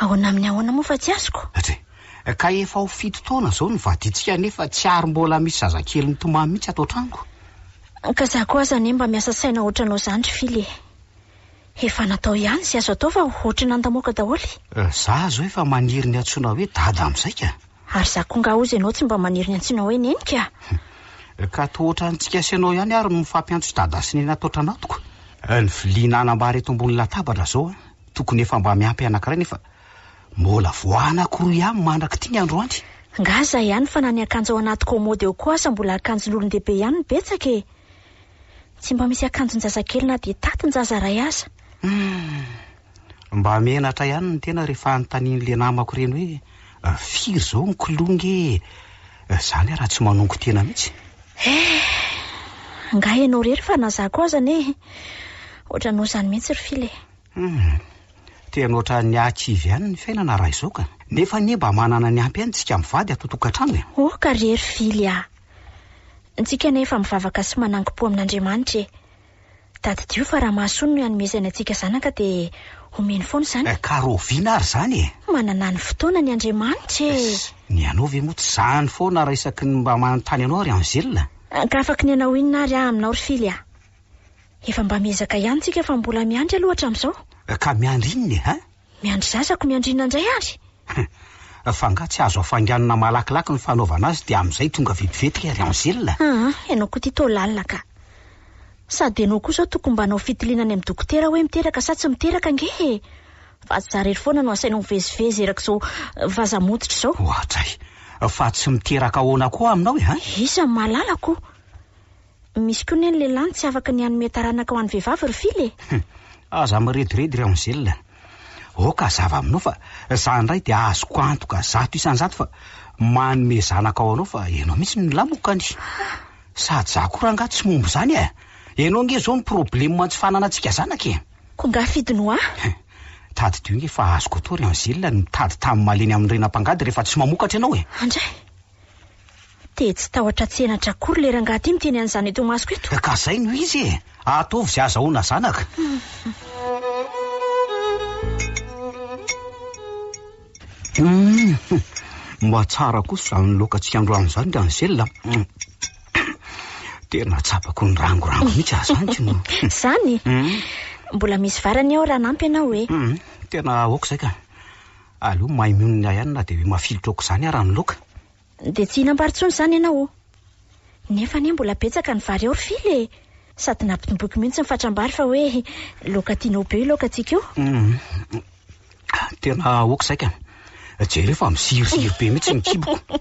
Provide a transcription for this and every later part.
Ahoana amin'ny ahoana moa fa tsy azoko? Atri. Ka efa ho fito taona izao no vadintsika nefa tsy ary mbola misy zazakely mitomany mihitsy ato an-tranoko. Ka za koa aza anie mba miasa saina ohatranao izany ry Fily e! Efa natao ihany izay azo atao fa ohatry ny nandamoaka daholo e! Za izao efa maniry ny antsoina hoe Dada amin'izay ka! Ary za koa ngah hozy ianao tsy mba maniry ny antsoina hoe Neny ka! Ka toa ohatran'ny tsy gasy ianao ihany ary no mifampiantso Dada sy Neny ato an-tranatoko! Ny vilia nanambara eto ambony latabatra izao an! Tokony efa mba miampy anankiray nefa mbola vao anankiroa ihany mandrak'ity ny androany. Ngah zay ihany fa na ny akanjo ao anaty kômôdy ao koa aza mbola akanjon'olon-dehibe ihany no betsaka e! Tsy mba misy akanjon-jazakely na dia tatin-jaza iray aza. Humm! Mba menatra ihany ny tena rehefa anontanian'le namako ireny hoe firy izao ny kilonga e! Izany ary raha tsy manongo tena mihitsy. Eh! Ngah ianao irery fa na za koa aza anie ohatranao izany mihitsy ry Fila e! Hum, tena ohatran'ny hahakivy ihany ny fiainana raha izao ka! Nefa anie mba manana ny ampy ihany isika mivady ato tokantrano e! Oh ka ry hery fily ah! Ntsika anie efa mivavaka sy manangom-po amin'Andriamanitra e! Tadidio fa raha mahasoa no hanomezany antsika zanaka dia omeny foana izany e! Ka rahoviana ary izany e! Manana ny fotoana ny Andriamanitra e! Ss, ny anao ve moa tsy izany foana raha isaky ny mba manontany anao ry Angèle? Ka afa-kinenao inona ary aho aminao ry fily ah! Efa mba miezaka ihany tsika fa mbola miandry aloha hatramin'izao. Ka miandry inona e hein? Miandry zazako, miandry inona indray ary? Hum, fa angaha tsy azo afainganina malakilaky ny fanaovana azy dia amin'izay tonga vetivety ilay ry Angèle? Aa, ianao koa ity toa lalina ka. Sady ianao koa izao tokony mba hanao fitiliana any amin'ny dokotera hoe miteraka sa tsy miteraka ange e! Fa tsy za irery foana no asainao mivezivezy erak'izao vaza motitra izao. Oadray! Fa tsy miteraka ahoana koa aminao e hein? Iza no mahalala ko? Misy koa ny lehilahy no tsy afaka ny hanome taranaka ho an'ny vehivavy ry Fily e! Hum, aza mirediredy ry Angèle. Aoka hazava aminao fa za indray dia azoko antoka zato isan-jato fa manome zanaka ho anao fa ianao mihitsy no nilamokany. Sady za koa rangaha tsy momba izany e! Ianao ange izao no problema tsy fananantsika zanaka e! Koa angaha fidy no ahy? Hum, tadidio ange fa azoko atao ry Angèle ny mitady tany malemy amin'ny rena mpangady rehefa tsy mamokatra ianao e! Andray! Te tsy tahotra tsy henatra akory le rangahy ty miteny an'izany eto imasoko eto. Ka zay no izy e! Ataovy ze azahoana zanaka. Humm! Mba tsara kosa izany laoka tsy androany izany ry Angel a! Tena tsapako ny rangorango mihitsy aza izany k'ino! Izany? Mbola misy vary anie ao raha hanampy ianao e! Tena aoka izay ka! Aleo mahay mionona ahy ihany na dia hoe mafilotra aok'izany ara ny loka. Dia tsy hihinam-bary intsony izany ianao ô! Nefa anie mbola betsaka ny vary ao ry Fily e! Sady nampitomboiko mihitsy ny fatram-bary fa hoe laoka tianao be io laokantsika io. Tena aoka izay ka! Jereo fa miziriziry be mihitsy ny kiboko.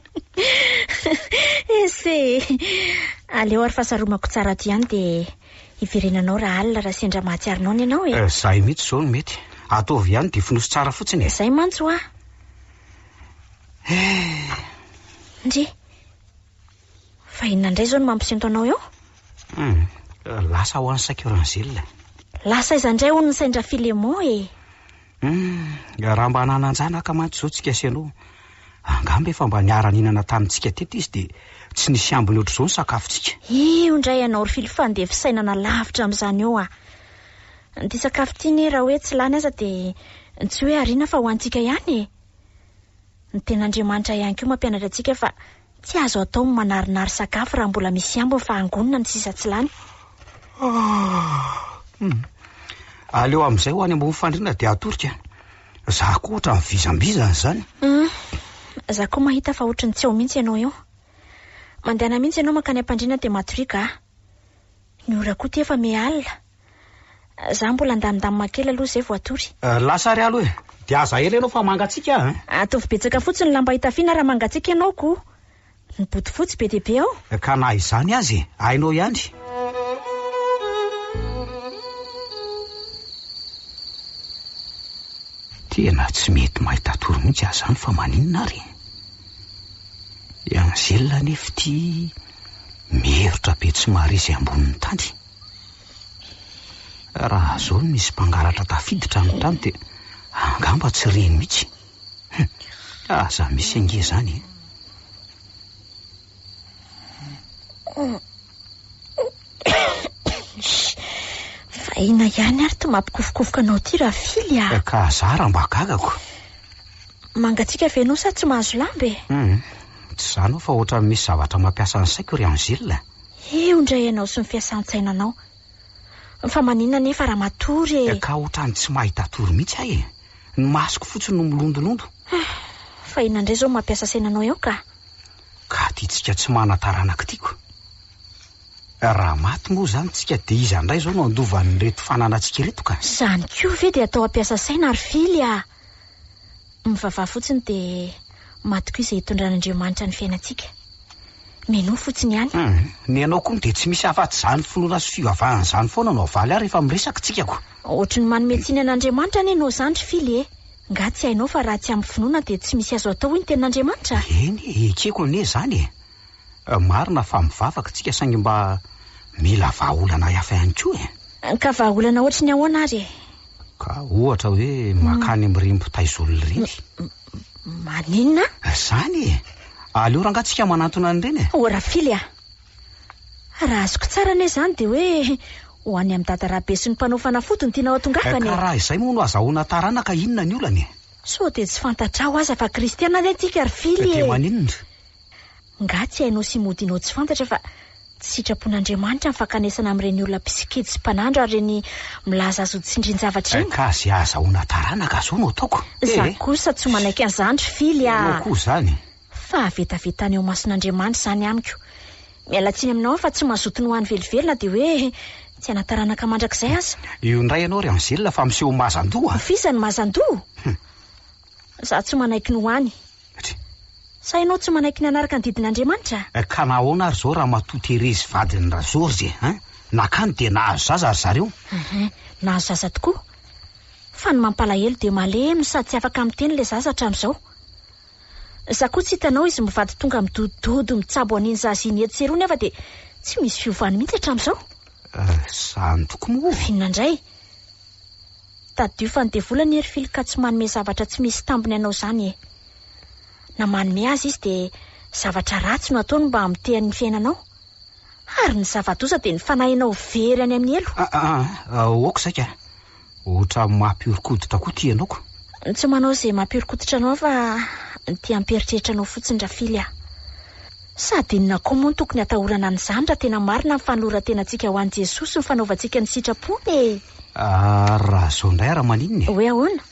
Ese e! Aleo ary fasaromako tsara ato ihany dia Hiverena anao raha alina raha sendra mahatsiaro noana ianao e! Eh, zay mihitsy izao no mety. Ataovy ihany dia fonoso tsara fotsiny e! Zay mantsy hoa! Eh! Ndry! Fa inona indray izao no mampisento anao eo? Hum, lasa ho an'i Saiko Rangel. Lasa aiza indray hono ny sendra Filemon e! Humm, raha mba nanan-janaka mantsy izao tsika sy ianao, angamba efa mba niara-nihinana tamintsika teto izy dia tsy nisy ambiny ohatr'izao ny sakafontsika. Io indray ianao ry Filo fandeha fisainana lavitra amin'izany eo a! Ity sakafo ity anie raha hoe tsy lany aza dia tsy hoe ariana fa ho antsika ihany e! Ny Tenin'Andriamanitra ihany koa mampianatra antsika fa Tsy azo atao ny manarinary sakafo raha mbola misy ambiny fa hangonina ny sisa tsy lany. Aleo amin'izay ho any ambony fandriana dia atorika. Za koa ohatran'ny vizambizana izany. Za koa mahita fa ohatry ny tsy ao mihitsy ianao eo. Mandehana mihitsy ianao mankany am-pandriana dia matoriaka aho. Ny ora koa ity efa miha alina. Za mbola andamindamina kely aloha zay vao hatory. Lasa ary alo e! Dia aza ela ianao fa mangatsiaka aho e! Ataovy betsaka fotsiny ny lamba hitafiana raha mangatsiaka ianao ko! Ny bodofotsy be dia be ao! Ka na izany aza e! Hainao ihany! Tena tsy mety mahita hatory mihitsy aho izany fa maninona ary e! I Angèle anefa ity miherotra be tsy mahare izay ambonin'ny tany. Raha izao no misy mpangalatra tafiditra ny trano dia angamba tsy reny mihitsy. Hum, aza misy ange izany e. Vahina ihany ary ty mampikofokofoka anao ty Rafily ah. Eh, ka zara mba gagako. Mangatsiaka ve ianao sa tsy mahazo lamba e? Hum, tsy izany aho fa ohatran'ny misy zavatra mampiasa ny saiko ry Angile. Eo indray ianao sy ny fiasan-tsainanao. Fa maninona anefa raha matory e? Ka ohatran'ny tsy mahita tory mihitsy aho e! Ny masoko fotsiny no milondolondo. Fa inona indray izao no mampiasa sainanao eo ka? Ka ity tsika tsy manan-taranaka ity ko! Raha maty moa izany tsika dia iza indray izao no handova an'ireto fananantsika ireto ka? Izany koa ve dia atao hampiasa saina ry Fily ah! Mivavaha fotsiny dia maty koa izay hitondran'Andriamanitra ny fiainantsika. Minoa fotsiny ihany. Hum, ny anao koa dia tsy misy afatsy izany finoana sy fivavahana izany foana no avaly ahy rehefa miresaka tsika ko. Ohatry ny manome tsiny an'Andriamanitra anie enao izany ry Fily e! Nga tsy hainao fa raha tsy ampy finoana dia tsy misy azo atao hoy ny tenin'Andriamanitra? Eny e, ekeko anie izany e! Marina fa mivavaka tsika saingy mba mila vahaolana hafa ihany koa e! Ka vahaolana ohatry ny ahoana ary e? Ka ohatra hoe makany mirimbo taizolo ireny. Maninona? Izany e! Aleo rangaha tsika manantona an'ireny e! O Rafily a! Raha azoko tsara anie izany dia hoe ho any amin'i Dada Rabe sy ny mpanao fanafody no tianao hatongavana e! Ka raha izay moa no azahoana taranaka inona ny olana e? Sao dia tsy fantatrao aza fa kristiana anie tsika ry Fily e! Dia maninona? Ngah tsy hainao sy modinao tsy fantatra fa tsy sitrapon'Andriamanitra ny fankanesana amin'ireny olona mpisikidy sy mpanandro ary ireny milaza azy ho tsindrin-javatra ireny? Ka izay ahazahoana taranaka aza ao no ataoko e! Za kosa tsy manaiky an'izany ry Fily ah! Ianao koa izany! Fahavetavetana eo mason'Andriamanitra izany amiko. Miala tsiny aminao aho fa tsy mazoto ny ho any velively na dia hoe tsy hana-taranaka mandrakizay aza. Io indray ianao ry Angela fa miseho mazan-doha a! F'iza no mazan-doha? Hum. Izaho tsy manaiky ny ho any. Try. Sa ianao tsy manaiky ny hanaraka ny didin'Andriamanitra? Eh, ka nahoana ary izao Ramatoa Thérèse vadin'i Rageorges eh? Hein? Nakany dia nahazo zaza ry zareo? Ehe, nahazo zaza tokoa. Fa ny mampalahelo dia malemy no sady tsy afaka miteny ilay zaza hatramin'izao. Izaho koa tsy hitanao izy mivady tonga midodododo mitsabo an'iny zaza iny etsy sy eroa nefa dia tsy misy fiovany mihitsy hatramin'izao. Eh, izany tokoa moa. Inona indray? Tadidio fa ny devoly anie ry fily ka tsy manome zavatra tsy misy tambiny anao izany e! Na manome aza izy dia zavatra ratsy no ataony mba hamotehany ny fiainanao? Ary ny zava-doza dia ny fanahinao very any amin'ny helo! Ah ah ah aoka saika a! Ohatra mampihoron-koditra koa ity ianao ko! Tsy manao izay mampihoron-koditra anao aho fa ny te hampieritreritra anao fotsiny ra fily a! Sady inona koa moa no tokony hatahorana an'izany raha tena marina ny fanoloran-tenantsika ho an'i Jesosy sy ny fanaovantsika ny sitrapony e! Ary raha zao indray ara maninona e? Hoe ahoana?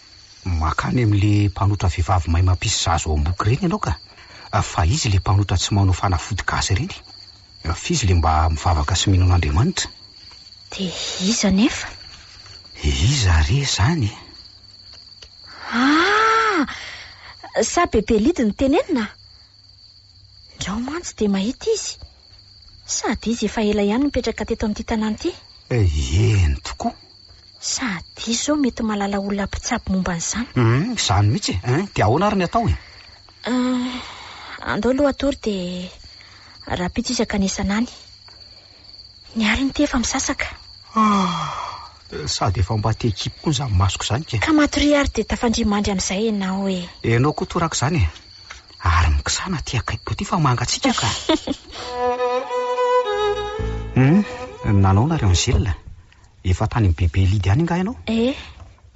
Makany amin'le mpanotra vehivavy mahay mampisy zaza ao am-boky ireny ianao ka! Fa izy le mpanotra tsy manao fanafody gasy ireny? Fa izy le mba mivavaka sy mino an'Andriamanitra? De iza anefa? Iza re izany e? Ah! Sa Bebe Lidy no tenenina? Ndrao mantsy de mahita izy. Sady izy efa ela ihany nipetraka teto amin'ity tanàna ity? Eny tokoa. Sady izy izao mety mahalala olona mpitsabo momba an'izany. Humm, izany mihitsy e! Hein, dia ahoana ary ny atao e? Ah, andao aloha hatory dia rahampitso izy hankany isana any. Ny alina ity efa misasaka. Ah, sady efa mba te hikipy koa izany masoko izany kay. Ka matoria ary dia tafandria mandry amin'izay ianao e! Ianao koa toraka izany e! Ary mikisana aty akaikiko aty fa mangatsiaka ka. Hum, nanao nareo ny zela? Efa tany amin'ny bebe Lidy any nga ianao? Eh,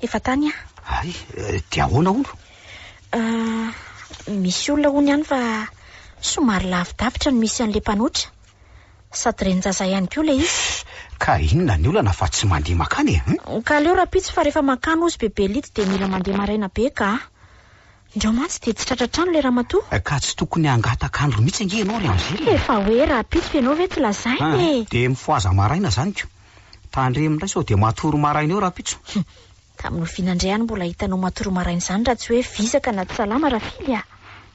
efa tany aho. Ay, eh, dia ahoana hono? Ah, misy olona hono ihany fa somary lavidavitra no misy an'ilay mpanotra. Sady renin-jaza ihany koa ilay izy. Ka inona ny olana fa tsy mandeha makany e? Hum? Ka aleo rahampitso fa rehefa mankany hozy bebe Lidy dia mila mandeha maraina be ka. Indrao mantsy dia tsy tratra trano ilay ramatoa. Eh, ka tsy tokony hangataka andro mihitsy ange ianao ry Angèle eh. Efa hoe rahampitso ianao ve tsy lazaina eh. Ah, dia mifohaza maraina izany ko. Tandremo indray sao dia matory maraina eo rahampitso. Humm, tamin'ny oviana indray aho no mbola hitanao matory maraina izany raha tsy hoe vizaka na tsy salama rafily ah.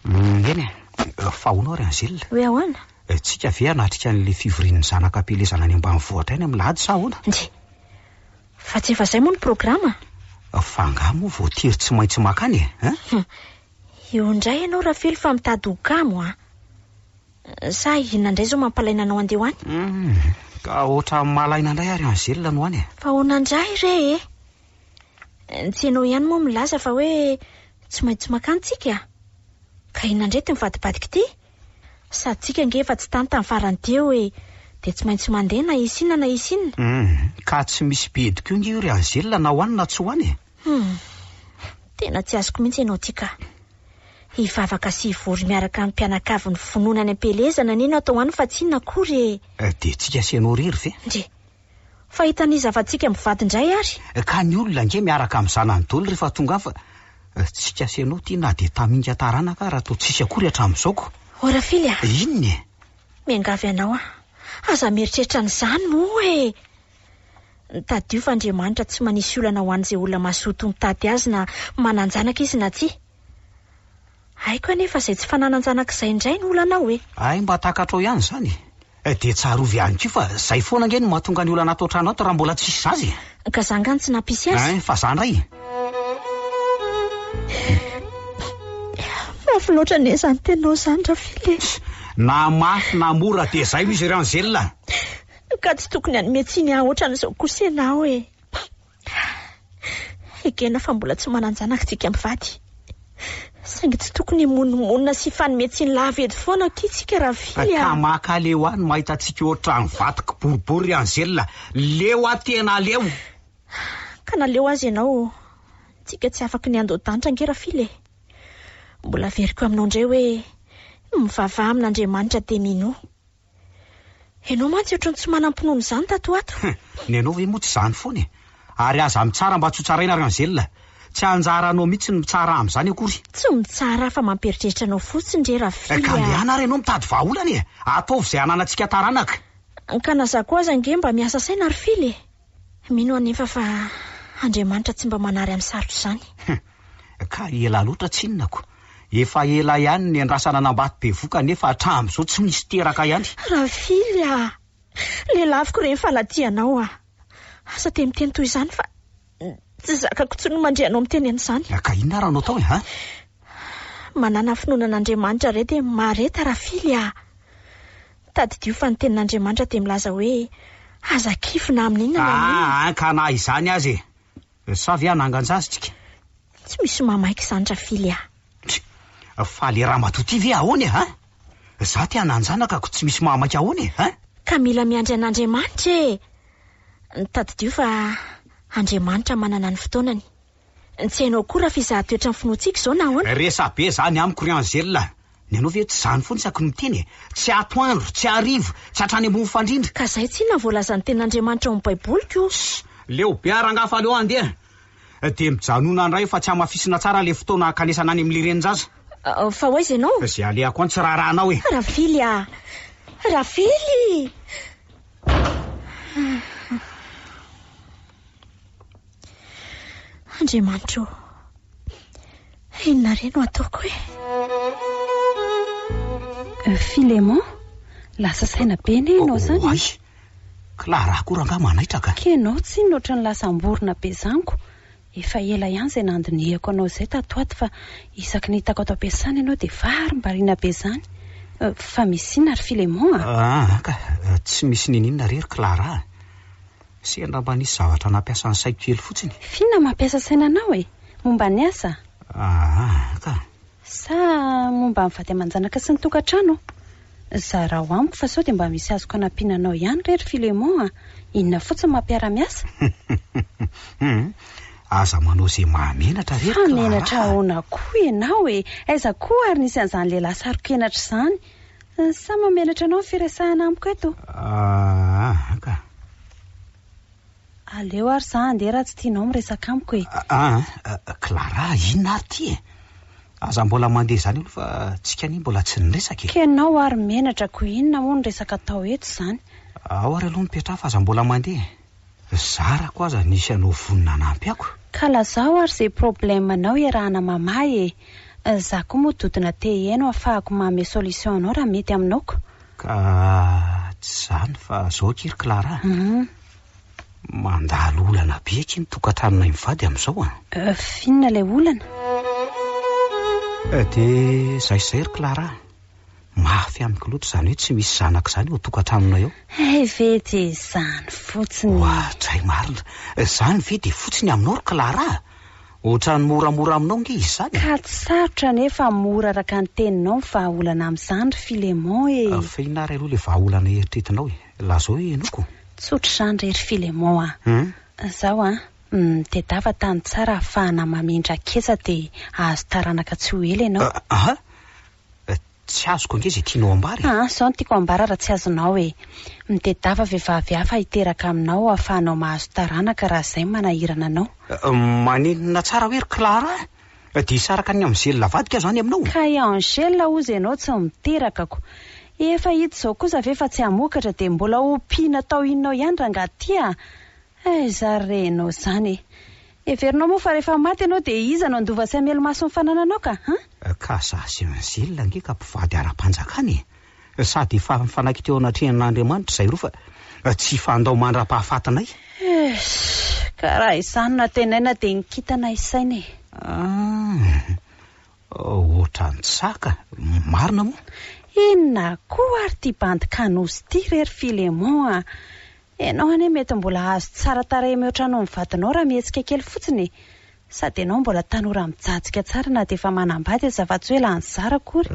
Humm, eny eh. Fa ahoana ry Angèle? Hoe ahoana? Eh, tsika ve hanatrika an'ilay fivorian'ny zanaka am-pielezana any ambanivohitra any amin'ny lahady sa ahoana? Ndry. Fa tsy efa zay moa ny programa a! Fa angaha moa voatery tsy maintsy makany e? Hein? Hum! Eo indray ianao Rafely fa mitady ho kamo a! Sa inona indray izao mampalaina anao handeha ho any? Hum! Ka hoatra malaina indray ary Angèle no any e! Fa ahoana indray re e! Tsy ianao ihany moa milaza fa hoe tsy maintsy makany tsika? Ka inona indray ity mivadibadika ity? Satsika ange efa tsy tany tamin'ny farany teo e! Dia tsy maintsy mandeha na hisy inona na hisy inona. Hum, ka tsy misy bedy koa ange io ry Angela na ho any na tsy ho any e! Hum, tena tsy azoko mihitsy ianao ity ka! Hivavaka sy hivory miaraka amin'ny mpianakavy ny finoana any am-pielezana anie no atao any fa tsy inona akory e! Dia tsika sy ianao irery ve? Ndry! Fa hitan'iza fa tsika mivady indray ary? Ka ny olona ange miaraka amin'ny zanany doly rehefa tonga afa tsy ka sy anao ty na dia taminga taranaka ara toa tsisy akory hatramin'izao ko. Ô Rafily a! Inona e? Miangavy anao aho, aza mieritreritra an'izany moa e! Tadidio fa Andriamanitra tsy manisy olana ho an'izay olona mazoto mitady Azy na manan-janaka izy na tsia. Haiko anefa izay tsy fananan-janak'izay indray no olanao e! Hay mba takatrao ihany izany e! Eh, dia tsarovy ihany koa fa izay foana ange no mahatonga ny olana ato an-trano ato raha mbola tsisy zaza e! Ka za angaha no tsy nampisy azy? Hein, fa za indray e! Mafy loatra anie izany teninao izany Rafily e! Na mafy na mora dia izay no izy ry Angela! Ka tsy tokony hanome tsiny ahy ohatran'izao kosa ianao e! Ekena fa mbola tsy manan-janaka tsika mpivady. Saingy tsy tokony himonomonona sy hifanome tsiny lava eto foana akia tsika Ravily a! Kamaka aleo aho no mahita antsika ohatran'ny vato kiboribory ry Angela. Leo aho tena aleo! Ka naleo aza ianao ô! Tsika tsy afaky ny handoa danitra ange Rafily e! Mbola averiko aminao indray hoe, mivavaha amin'Andriamanitra dia minoa. Ianao mantsy ohatran'ny tsy manam-pinoana izany tato ho ato. Hum, ny anao ve moa tsy izany foana e? Ary aza mitsara mba tsy ho tsaraina ry Angèle. Tsy anjara anao mihitsy ny mitsara amin'izany akory. Tsy mitsara fa mampieritreritra anao fotsiny re Rafia a! Ka andeha na ary ianao mitady vahaolana e! Ataovy izay hananantsika taranaka. Ka na za koa aza ange mba miasa saina ry Fily e! Mino aho anefa fa Andriamanitra tsy mba manary amin'ny sarotra izany. Hum, ka ela loatra tsinonako. Efa ela ihany no niandrasana an'Ambato bevoka nefa hatramin'izao tsy misy teraka ihany. Ravily a! Lelaviko ireny fa nadia anao aho. Aza dia miteny toy izany fa tsy zakako intsony ny mandre anao miteny an'izany. Ka inona ary no atao e ha? Manana finoana an'Andriamanitra re dia mahareta Ravily a! Tadidio fa ny tenin'Andriamanitra dia milaza hoe, Aza kivy na amin' inona na amin' inona. Aa, ka na izany aza e! Sa ve hanangan-jazintsika? Tsy misy mamaika izany Rafily ah. Tch! Fa le ramatoa ty ve ahoana e hein? Za te hanan-janaka ko tsy misy mahamaika ahoana e hein? Ka mila miandry an'Andriamanitra e! Tadidio fa Andriamanitra manana ny fotoanany. Tsy hainao akory raha f'izaho toetran'ny finoantsika izao na ahoana? Resabe izany amiko ry Angèle a! Ny anao ve tsy izany foana isaky ny miteny e? Tsy atoandro, tsy hariva, tsy hatrany ambony fandrindra. Ka izay tsinona ny voalazan'ny Tenin'Andriamanitra ao amin'ny Baiboliko io. Ss! Leo be aho rangahy fa aleo handeha e! Dia mijanona indray fa tsy hamafisina tsara ilay fotoana hankanesana any amin'ilay renin-jaza. Fa ho aiza ianao? Izay alehako any tsy raharahanao e! Rafily a! Rafily! Andriamanitra ô, inona re no ataoko e? Filemon, lasa saina be anie ianao izany e! Oay! Clara akory angaha manaitraka? Kenao tsinona ohatran'ny lasa am-borona be izany ko! Efa ela ihany izay nandinihako anao izay tato ato fa isaky ny hitako ato am-piasana ianao dia varimbariana be izany! Fa misy inona ry Filemon a? Aa ka! Tsy misy ninoninona re ry Clara a! Sendra mba nisy zavatra nampiasa ny saiko kely fotsiny. Fy na mampiasa saina anao e! Momba ny asa? Aa ka! Sa momba ny vady aman-janaka sy ny tokantrano? Zarao amiko fa sao dia mba misy azoko anampiana anao ihany re ry Philemon a! Inona fotsiny mampiara-miasa? Hum! Aza manao izay mahamenatra re ry Clara a! Fa menatra ahoana koa ianao e! Aiza koa ary nisy an'izany lehilahy sarok'henatra izany? Sa mamelatra anao ny firesahana amiko eto? Aa ka. Aleo ary za handeha raha tsy tianao miresaka amiko e. Aa, Clara, inona ary ity e? Aza mbola mandeha izany aloha fa tsika anie mbola tsy niresaka e. Ka ianao ary menatra ko inona moa ny resaka atao eto izany? Ao ary aloha mipetraha fa aza mbola mandeha e. zarako aza nisy anao vonona hanampy ako. Ka lazao ary ze problème anao iarahana mama e! Za koa moa dodona te heno afahako mame solution anao raha mety aminao ko! Ka tsy izany fa zao akia ry Clara a! Hum. Mandalo olana be akia ny tokantranonay mivady amin'izao an! Euf inona ilay olana? Eh dia izay sy izay ry Clara a! Mafy amiko loatra izany hoe tsy misy zanaka izany ao an-tokantranonay ao. Hay ve dia izany fotsiny e! Oadray marina! Izany ve dia fotsy ny aminao ry Clara a! Ohatran'ny moramora aminao ange izy izany e! Ka tsy sarotra anefa mora araka ny teninao ny vahaolana amin'izany ry Philémon e! Afenina ary aloha ilay vahaolana eritretinao e! Lazao e Henoko! Tsotra izany re ry Philémon a! Izaho a! Nitedava tany tsara ahafahana mamindra ketsa dia hahazo taranaka tsy ho ela ianao. Aha! Tsy azoko ange izay tianao ambara e! Aa, zao no tiako ambara raha tsy azonao e! Mitedava vehivavy hafa hiteraka aminao ahafahanao mahazo taranaka raha izay manahirana anao. Maninona tsara hoe ry Clara a! Dia hisaraka an'i Angela avadika aho izany aminao? Ka i Angela hozy ianao tsy miteraka ko! Efa hita izao kosa ve fa tsy hamokatra dia mbola hompiana tao inona ao ihany rangahy ty a! Aiza re ianao izany e! Heverinao moa fa rehefa maty ianao dia iza no handova sy hamely maso ny fanananao ka an? Ka za sy an Gilles ange ka mpivady ara-panjakana e! Sady efa nifanaiky teo anatrehan' Andriamanitra izay roa fa tsy hifandao mandra-pahafatinay. Eish! Ka raha izany no antenaina dia ny kintana isaina e! An! Ohatran'ny tsy sahy ka! Marina moa? Inona koa ary ity bandy Canousse ity re ry Philémon a! Enao anie mety mbola hahazo tsara tarehy mihoatra anao ny vadinao raha mihetsika kely fotsiny e! Sady enao mbola tanora mijajika tsara na dia efa manambady aza fa tsy hoe lany zara akory.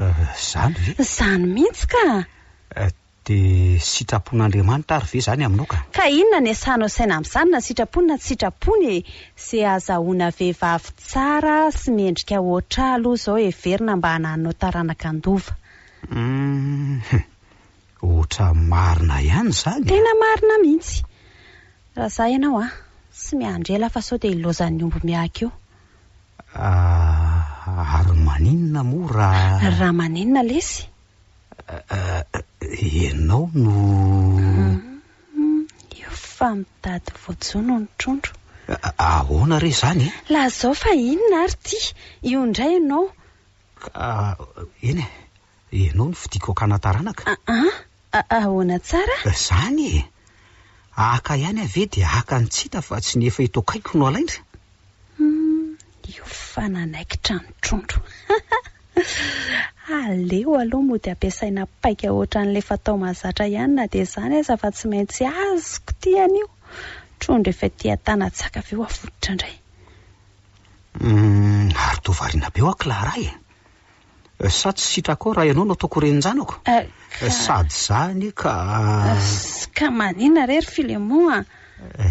Zany ve? Zany mihitsy ka! Dia sitrapon'Andriamanitra ary ve zany aminao ka? Ka inona ny asahanao saina amin'izany na sitrapony na tsy sitrapony e! Ze azahoana vehivavy tsara sy mendrika hoatra ahy aloha izao heverina mba hanahinao taranaka handova. Hum! Ohatra marina ihany izany a! Tena marina mihitsy! Raha za ianao a! Tsy miandry ela fa sao dia hilaozan'ny omby miahaka eo. Ah, ary maninona moa raha. Raha maninona lesy? Ah, ianao no. Hum, io fa mitady voajono ny trondro. Ahoana re izany e? Lazao fa inona ary ity? Io indray ianao. Ka, eny e! Ianao no fidiko hakana taranaka. An, ahoana tsara? Izany e! Haka ihany aho ve dia haka ny tsy hita fa tsy ny efa eto akaiko no halaina? Humm, io fa nanaikitra ny trondro. Aleo aloha mody ampiasaina paika ohatran'ilay fatao mahazatra ihany na dia izany aza fa tsy maintsy azoko ity anio. Trondro efa ety an-tanatsaka avy eo avototra indray. Humm, ary toa variana be ho'a Clara e! Sa tsy sitrakao raha ianao no ataoko renin-janako? Sady izany ka. Ka maninona re ry Filemon a?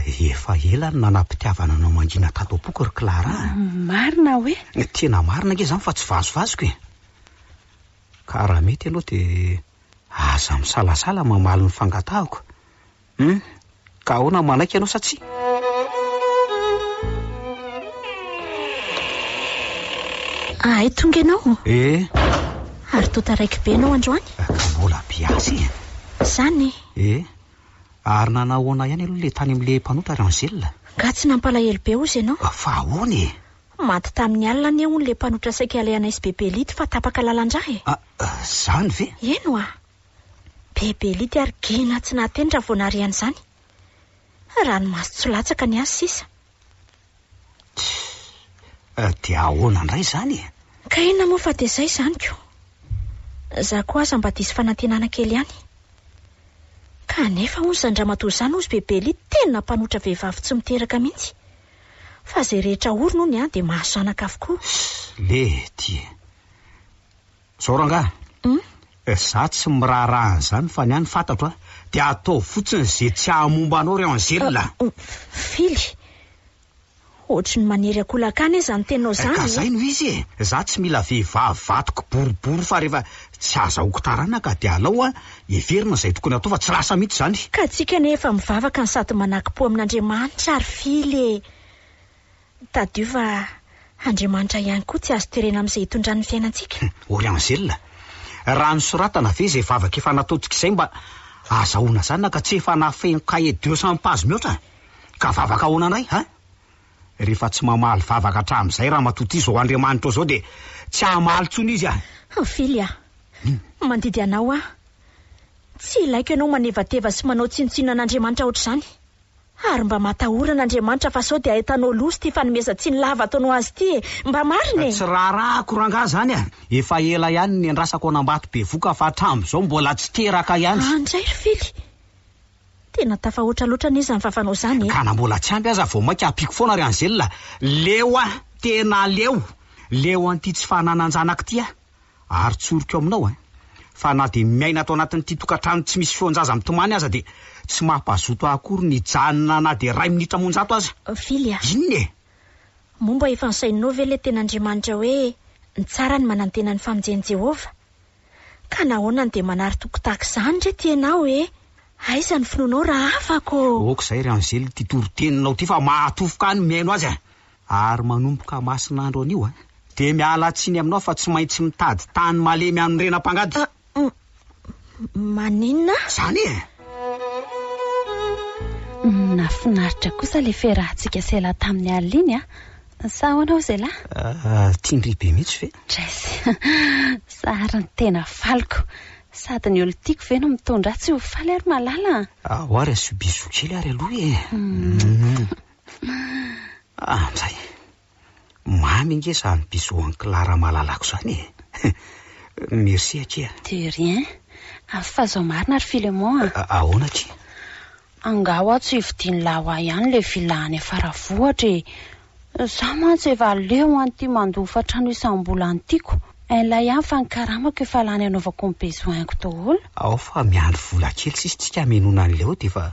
Efa ela no nanam-pitiavana anao mangina tato am-poko ry Clara a. Marina hoe? Tena marina ange izany fa tsy vazovazoko e. Ka raha mety ianao dia aza misalasala mamaly ny fangatahako Hum, ka ahoana no manaiky ianao sa tsia? Ahay tonga ianao? Eh! Ary toa taraiky be ianao androany? Ka mbola mpiasa e! Izany e! Eh! Ary nanao ahoana ihany aloha ilay tany amin'ilay mpanota ry Angèle? Nga tsy nampalahelo be hozy ianao? Fa ahoana e! Maty tamin'ny alina anie hono ilay mpanota saika alehanay sy Bebe Lity fa tapaka lalan-drà e! Ah, izany ve? Eny hoa! Be belity ary gena tsy nahateny raha vao nahare an'izany. Ranomaso tsy latsaka ny ahy sisa. Tsia, dia ahoana indray izany e? Ka inona moa fa dia izay izany ko. Izaho koa aza mba diso fanantenana kely ihany. Kanefa hono izany ramatoa izany hozy be belity tena mpanotra vehivavy tsy miteraka mihitsy. Fa izay rehetra orina hono dia mahazo zanaka avokoa. Mety e. Zao rangahy, za tsy miraharaha an'izany fa ny ahy ny fantatro a, dia ataovy fotsiny ze tsy hahamomba anao ry Angèle a! Fily! Ohatry ny manery akolak'ahy anie zany teninao zany e! Ka zay no izy e! Za tsy mila vehivavy vadiko boribory fa rehefa tsy azahoako taranaka dia alao a, heverina zay tokony hatao fa tsy lasa mihitsy zany! Ka tsika anie efa mivavaka no sady manakim-po amin'Andriamanitra ry Fily e! Tadidio fa Andriamanitra ihany koa tsy azo terena amin'izay itondrany ny fiainantsika. Ory Angèle. Raha nosoratana ve izay vavaka efa nataontsika izay mba azahoana zanaka tsy efa nafeno cahier deux cents pages mihoatra? Ka vavaka ahoana indray an? Rehefa tsy mamaly vavaka hatramin'izay ramatoa ity izao Andriamanitra izao dia tsy hamaly intsony izy an! Fily an! Mandidy anao aho. Tsy ilaiko ianao manevateva sy manao tsinontsinona an'Andriamanitra ohatr'izany. Ary mba matahorana Andriamanitra fa sao dia ahitanao loza ity fanomezan-tsiny lava ataonao azy ity e! Mba marina e! Tsy raharahako rangahy zany a! Efa ela ihany niandrasako an'Ambato bevoka fa hatramin'izao mbola tsy teraka ihany. An dray ry Fily! Tena tafahoatra loatra anie izany vavanao izany e! Ka na mbola tsy ampy aza vao mainka ampiako foana ry Angelina! Leo aho! Tena leo! Leo an'ity tsy fananan-janaka ity aho! ary tsoriko aminao an, fa na dia miaina ato anatin'ity tokantrano tsy misy feon-jaza mitomany aza dia tsy mampazoto ahy akory ny hijanona na dia iray minitra amonjato aza. Vily a! Inona e? Moa mba efa nosainao ve ilay tena Andriamanitra hoe ny tsara ny manantena ny famonjen'i Jehovah? Ka nahoana no dia manary toky tahaka izany re ty ianao e? Aiza ny finoanao raha afaka ô? Aoka izay ry Anzely ity toriteninao ity fa mahatofoka ahy ny mihaino azy a! Ary manomboka masina andro anio a! Dia miala tsiny aminao fa tsy maintsy mitady tany malemy hanorenam pangady. An, maninona? Zany e! Nafinaritra kosa le fiarahantsika sela taminy alina iny a! Sa ahoana hoy zela? Ahh, tian-dry be mihitsy ve? Jess, zary ny tena faliko. Sady ny olo tiako ve no mitondra ahy tsy ho faly ary malala a! Ahoa ary asio bisous kely ary aloha e! Mouh. Ah, amin'izay, mamy ange izany bisous an'i Clara malalako izany e! Merci akia a! De rien! Avy fa izao marina ry Philemon a! Ahoana akia? Angaha ho'a tsy hividian'lah ho'a ihany le villa any Faravohitra e! Za mantsy efa leo an'ity mandofa trano isam-bola an'tiako, inlah ihany fa ny karamako efa lany anaovako ny besoin-ko daholo. Ao fa miandry vola kely sisa tsika hamenoana an'leo dia efa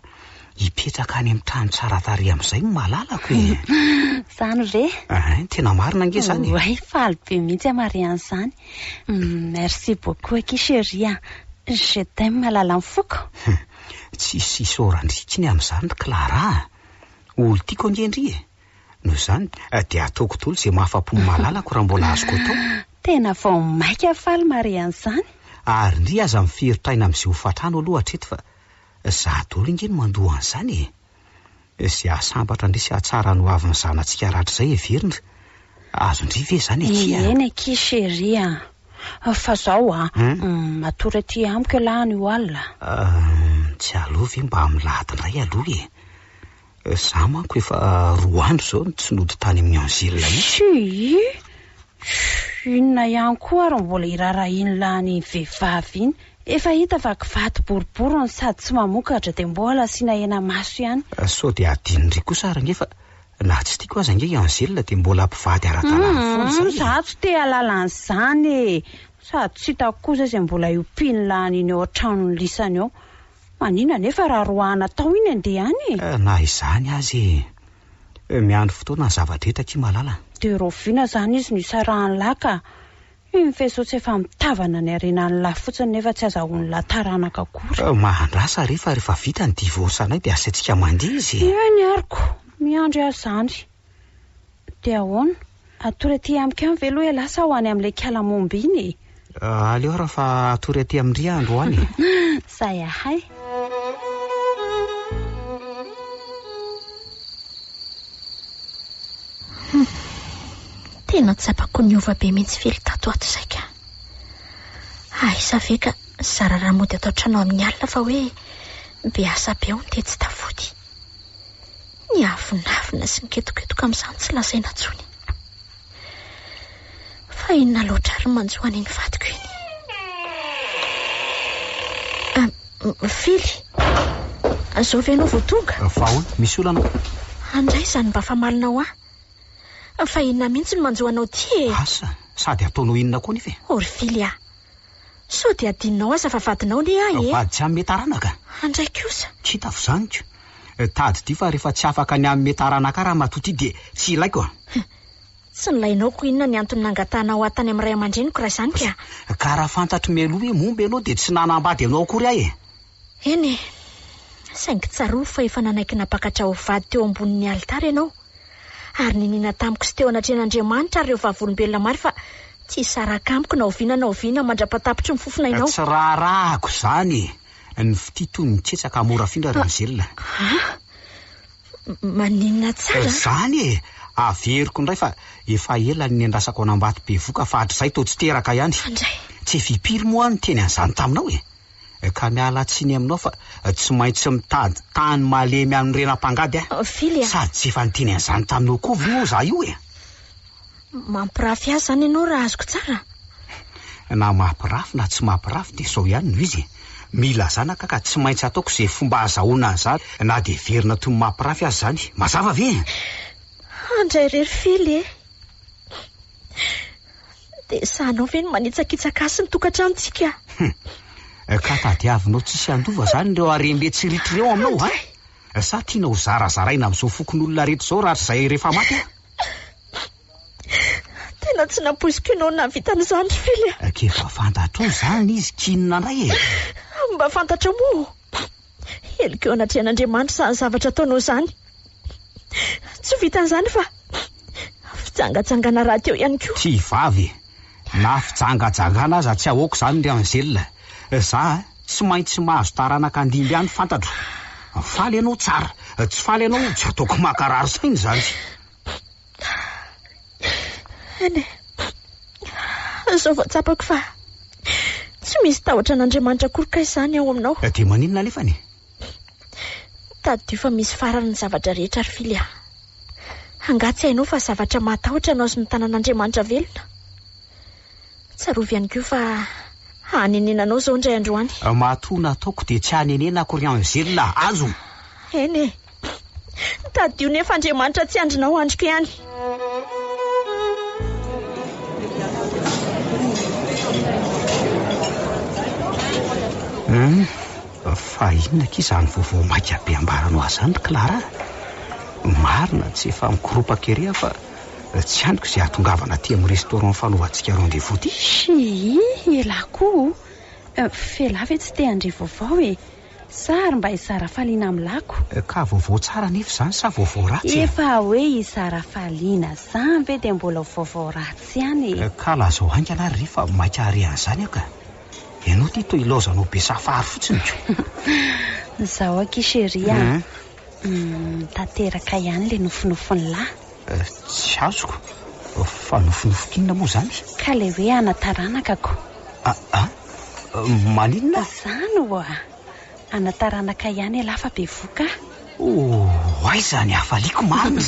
Hipetraka any amin'ny trano tsara tarehy amin'izay ny malalako e! Izany ve? Hein, tena marina ange izany e! Ouai, faly be mihitsy aho mahare an'izany. Merci beaucoup akia chérie a! Je t'aime malalan'ny foko. Hum, tsisy isaorana intsony amin'izany ry Clara a! Olon-tiako ange ndry e! Noho izany dia ataoko daholo izay mahafa-po ny malalako raha mbola azoko atao. Tena vao mainka faly mahare an'izany. Ary ndry aza miferotra aina amin'izay hofantrano aloha hatreto fa Zah dolo nge no mandoa an'izany e! Izay hahasambatra ndry sy hahatsara ny hoavin'ny zanatsika rahatrizay heverindry, azon-dry ve izany akia a! Eny akia chérie a! Fa zao a! Matory aty amiko ialahy any ho alina a! Tsy aleo ve mba milahadindray aloha e! Za manko efa roa andro zao no tsy nody tany amin'ny Anzila mihitsy. Shyy! Shhh! Inona ihany koa ary no mbola irarahin'i Lany iny vehivavy iny? Efa hita fa kivato boribory no sady tsy mamokatra dia mbola asiana hena maso ihany. Sao dia adinony ry kosa ary ange fa na tsy tiako aza ange i Anzila dia mbola mpivady ara-dalàna foana izany e! Za tsy te hahalala an'izany e! Sady tsy hitako kosa izay mbola iompian'i Lany iny eo an-tranon'i Lisany eo. Manina anefa raha roahana tao iny andeha any e! Na izany aza e! Miandry fotoana ny zavatra hita akia malala. Dia raoviana izany izy no isarahan'i lah ka! Iny faisceau tsy efa mitavana ny harenan'i lah fotsiny nefa tsy azahoan'i lah taranaka akory. Mahandrasa re fa rehefa vita ny divorce-nay dia asaintsika mandihy izy e! Eny arko! Miandry ahy izany. Dia ahoana? Hatory aty amiko any ve aloha ialahy sa ho any amin'ilay Kalamonba iny e? Aleo ary fa hatory aty amin-dry aho androany e! Sahy ahay! Hum! Tena tsapako niova be mihitsy Fily tato ato izay ka! Aiza ve ka zara raha mody ato an-trano amin'ny alina fa hoe be asa be hono dia tsy tafody. Ny avonavona sy ny ketoketoka amin'izany tsy lazaina intsony. Fa inona loatra ary no manjo an'iny vadiko iny? Mifily. Zao ve ianao vao tonga? Fa ahoana? Misy olana? Andray izany mba famalina ho ahy. Fa inona mihitsy no manjo anao ity e? Asa, sady ataonao inona koa nefa e? O ry Fily a! Sao dia adinonao aza fa vadinao anie ahy e! Vady tsy hanome taranaka? Handray kosa! Tsy hitako izany ko! Tadidio fa rehefa tsy afaka ny hanome taranaka ahy ramatoa ity dia tsy ilaiko an! Tsy nilainao ko inona ny antony nangatanao ahy tany amin'ny ray aman-dreniko raha izany ka? Ka raha fantatro mialoha hoe momba ianao dia tsy nanambady anao akory aho e! Eny e! Saingy tsarovy fa efa nanaiky nampakatra ho vady teo ambonin'ny alitara ianao, ary niniana tamiko sy teo anatrehan'Andriamanitra ary ireo vavolombelona maro fa tsy hisaraka amiko na oviana na oviana mandra-patapitry ny fofon'ainao. Tsy raharahako izany e! Nifitia toy ny tsetsaka mora afindra ry Angèle. Ah! Maninona tsara? Izany e! Averiko indray fa efa ela no niandrasako an'Ambatobevoka fa hatrizay toa tsy teraka ihany. Tsy firy moa aho no niteny an'izany taminao e! ka miala tsiny aminao fa tsy maintsy mitady tany malemy any rena mpangady a! Fily a! Sady tsy efa niteny an'izany taminao koa ve moa izaho io e? Mampirafy ahy izany ianao raha azoko tsara? Na mampirafy na tsy mampirafy dia izao ihany no izy e! Mila zanaka ka tsy maintsy ataoko izay fomba azahoana an'izany na dia heverina toy ny mampirafy aza izany. Mazava ve? Andray irery Fily e! Dia sahanao ve ny manitsakitsaka ahy sy ny tokantranontsika? Hum, ka tadiavinao tsisy handova izany ireo harem-be tsy ritra ireo aminao va? Sa tiana ho zarazaraina amin'izao fokonolona rehetra izao rahatrizay rehefa maty aho? Tena tsy nampoiziko ianao nahavita an'izany ry Fily a! K'efa fantatrao izany izy, k'inona indray e? Mba fantatrao moa! Heloka eo anatrehan'Andriamanitra izany zavatra ataonao izany. Tsy vitan'izany fa fijangajangana rahateo ihany koa. Tsy vavy e! Na fijangajangana aza tsy ahoako izany ry Angèle. Za tsy maintsy mahazo taranaka handimby any fantatro. Faly ianao, tsara. Tsy faly ianao, tsy ataoko mankarary saina izany. Eny e, izao vao tsapako fa tsy misy tahotra an'Andriamanitra akory kay izany ao aminao. Dia maninona anefany e? Tadidio fa misy farany ny zavatra rehetra ry Fily a! Angaha tsy hainao fa zavatra mahatahotra anao sy ny tanan'Andriamanitra velona? Tsarovy ihany koa fa hanenena anao izao indray andro any. Matoa nataoko dia tsy hanenena akory angelina azo! Eny e! Tadidio nefa Andriamanitra tsy andrinao andriko ihany. Hum, fa inona akia izany vaovao maika be ambaranao azy izany ry Clara? Marina tsy efa mikoropaka ery aho fa tsy andriko izay hahatongavana aty amin'ny restaurant fanaovantsika rendez-vous ity. Shii, elah koa o! F'elah ve tsy te handre vaovao e! Sa ary mba i Sarafaliana amin'ny lako? Ka vaovao tsara anefa izany sa vaovao ratsy e? Efa hoe i Sarafaliana izany ve dia mbola vaovao ratsy ihany e? Ka lazao haingana ary re fa maika hare an'izany aho ka! Ianao ity toa ilaozanao be safary fotsiny ko! Izao akia chérie a! Tanteraka ihany ilay nofinofin'ny lahy. Tsy azoko fa nofinofin'inona moa izany? Ka ilay hoe ana taranakako. Aa? Maninona? Izany oa! Ana taranaka ihany ialahy fa bevoka a! Oh, aiza ny hafaliako marina!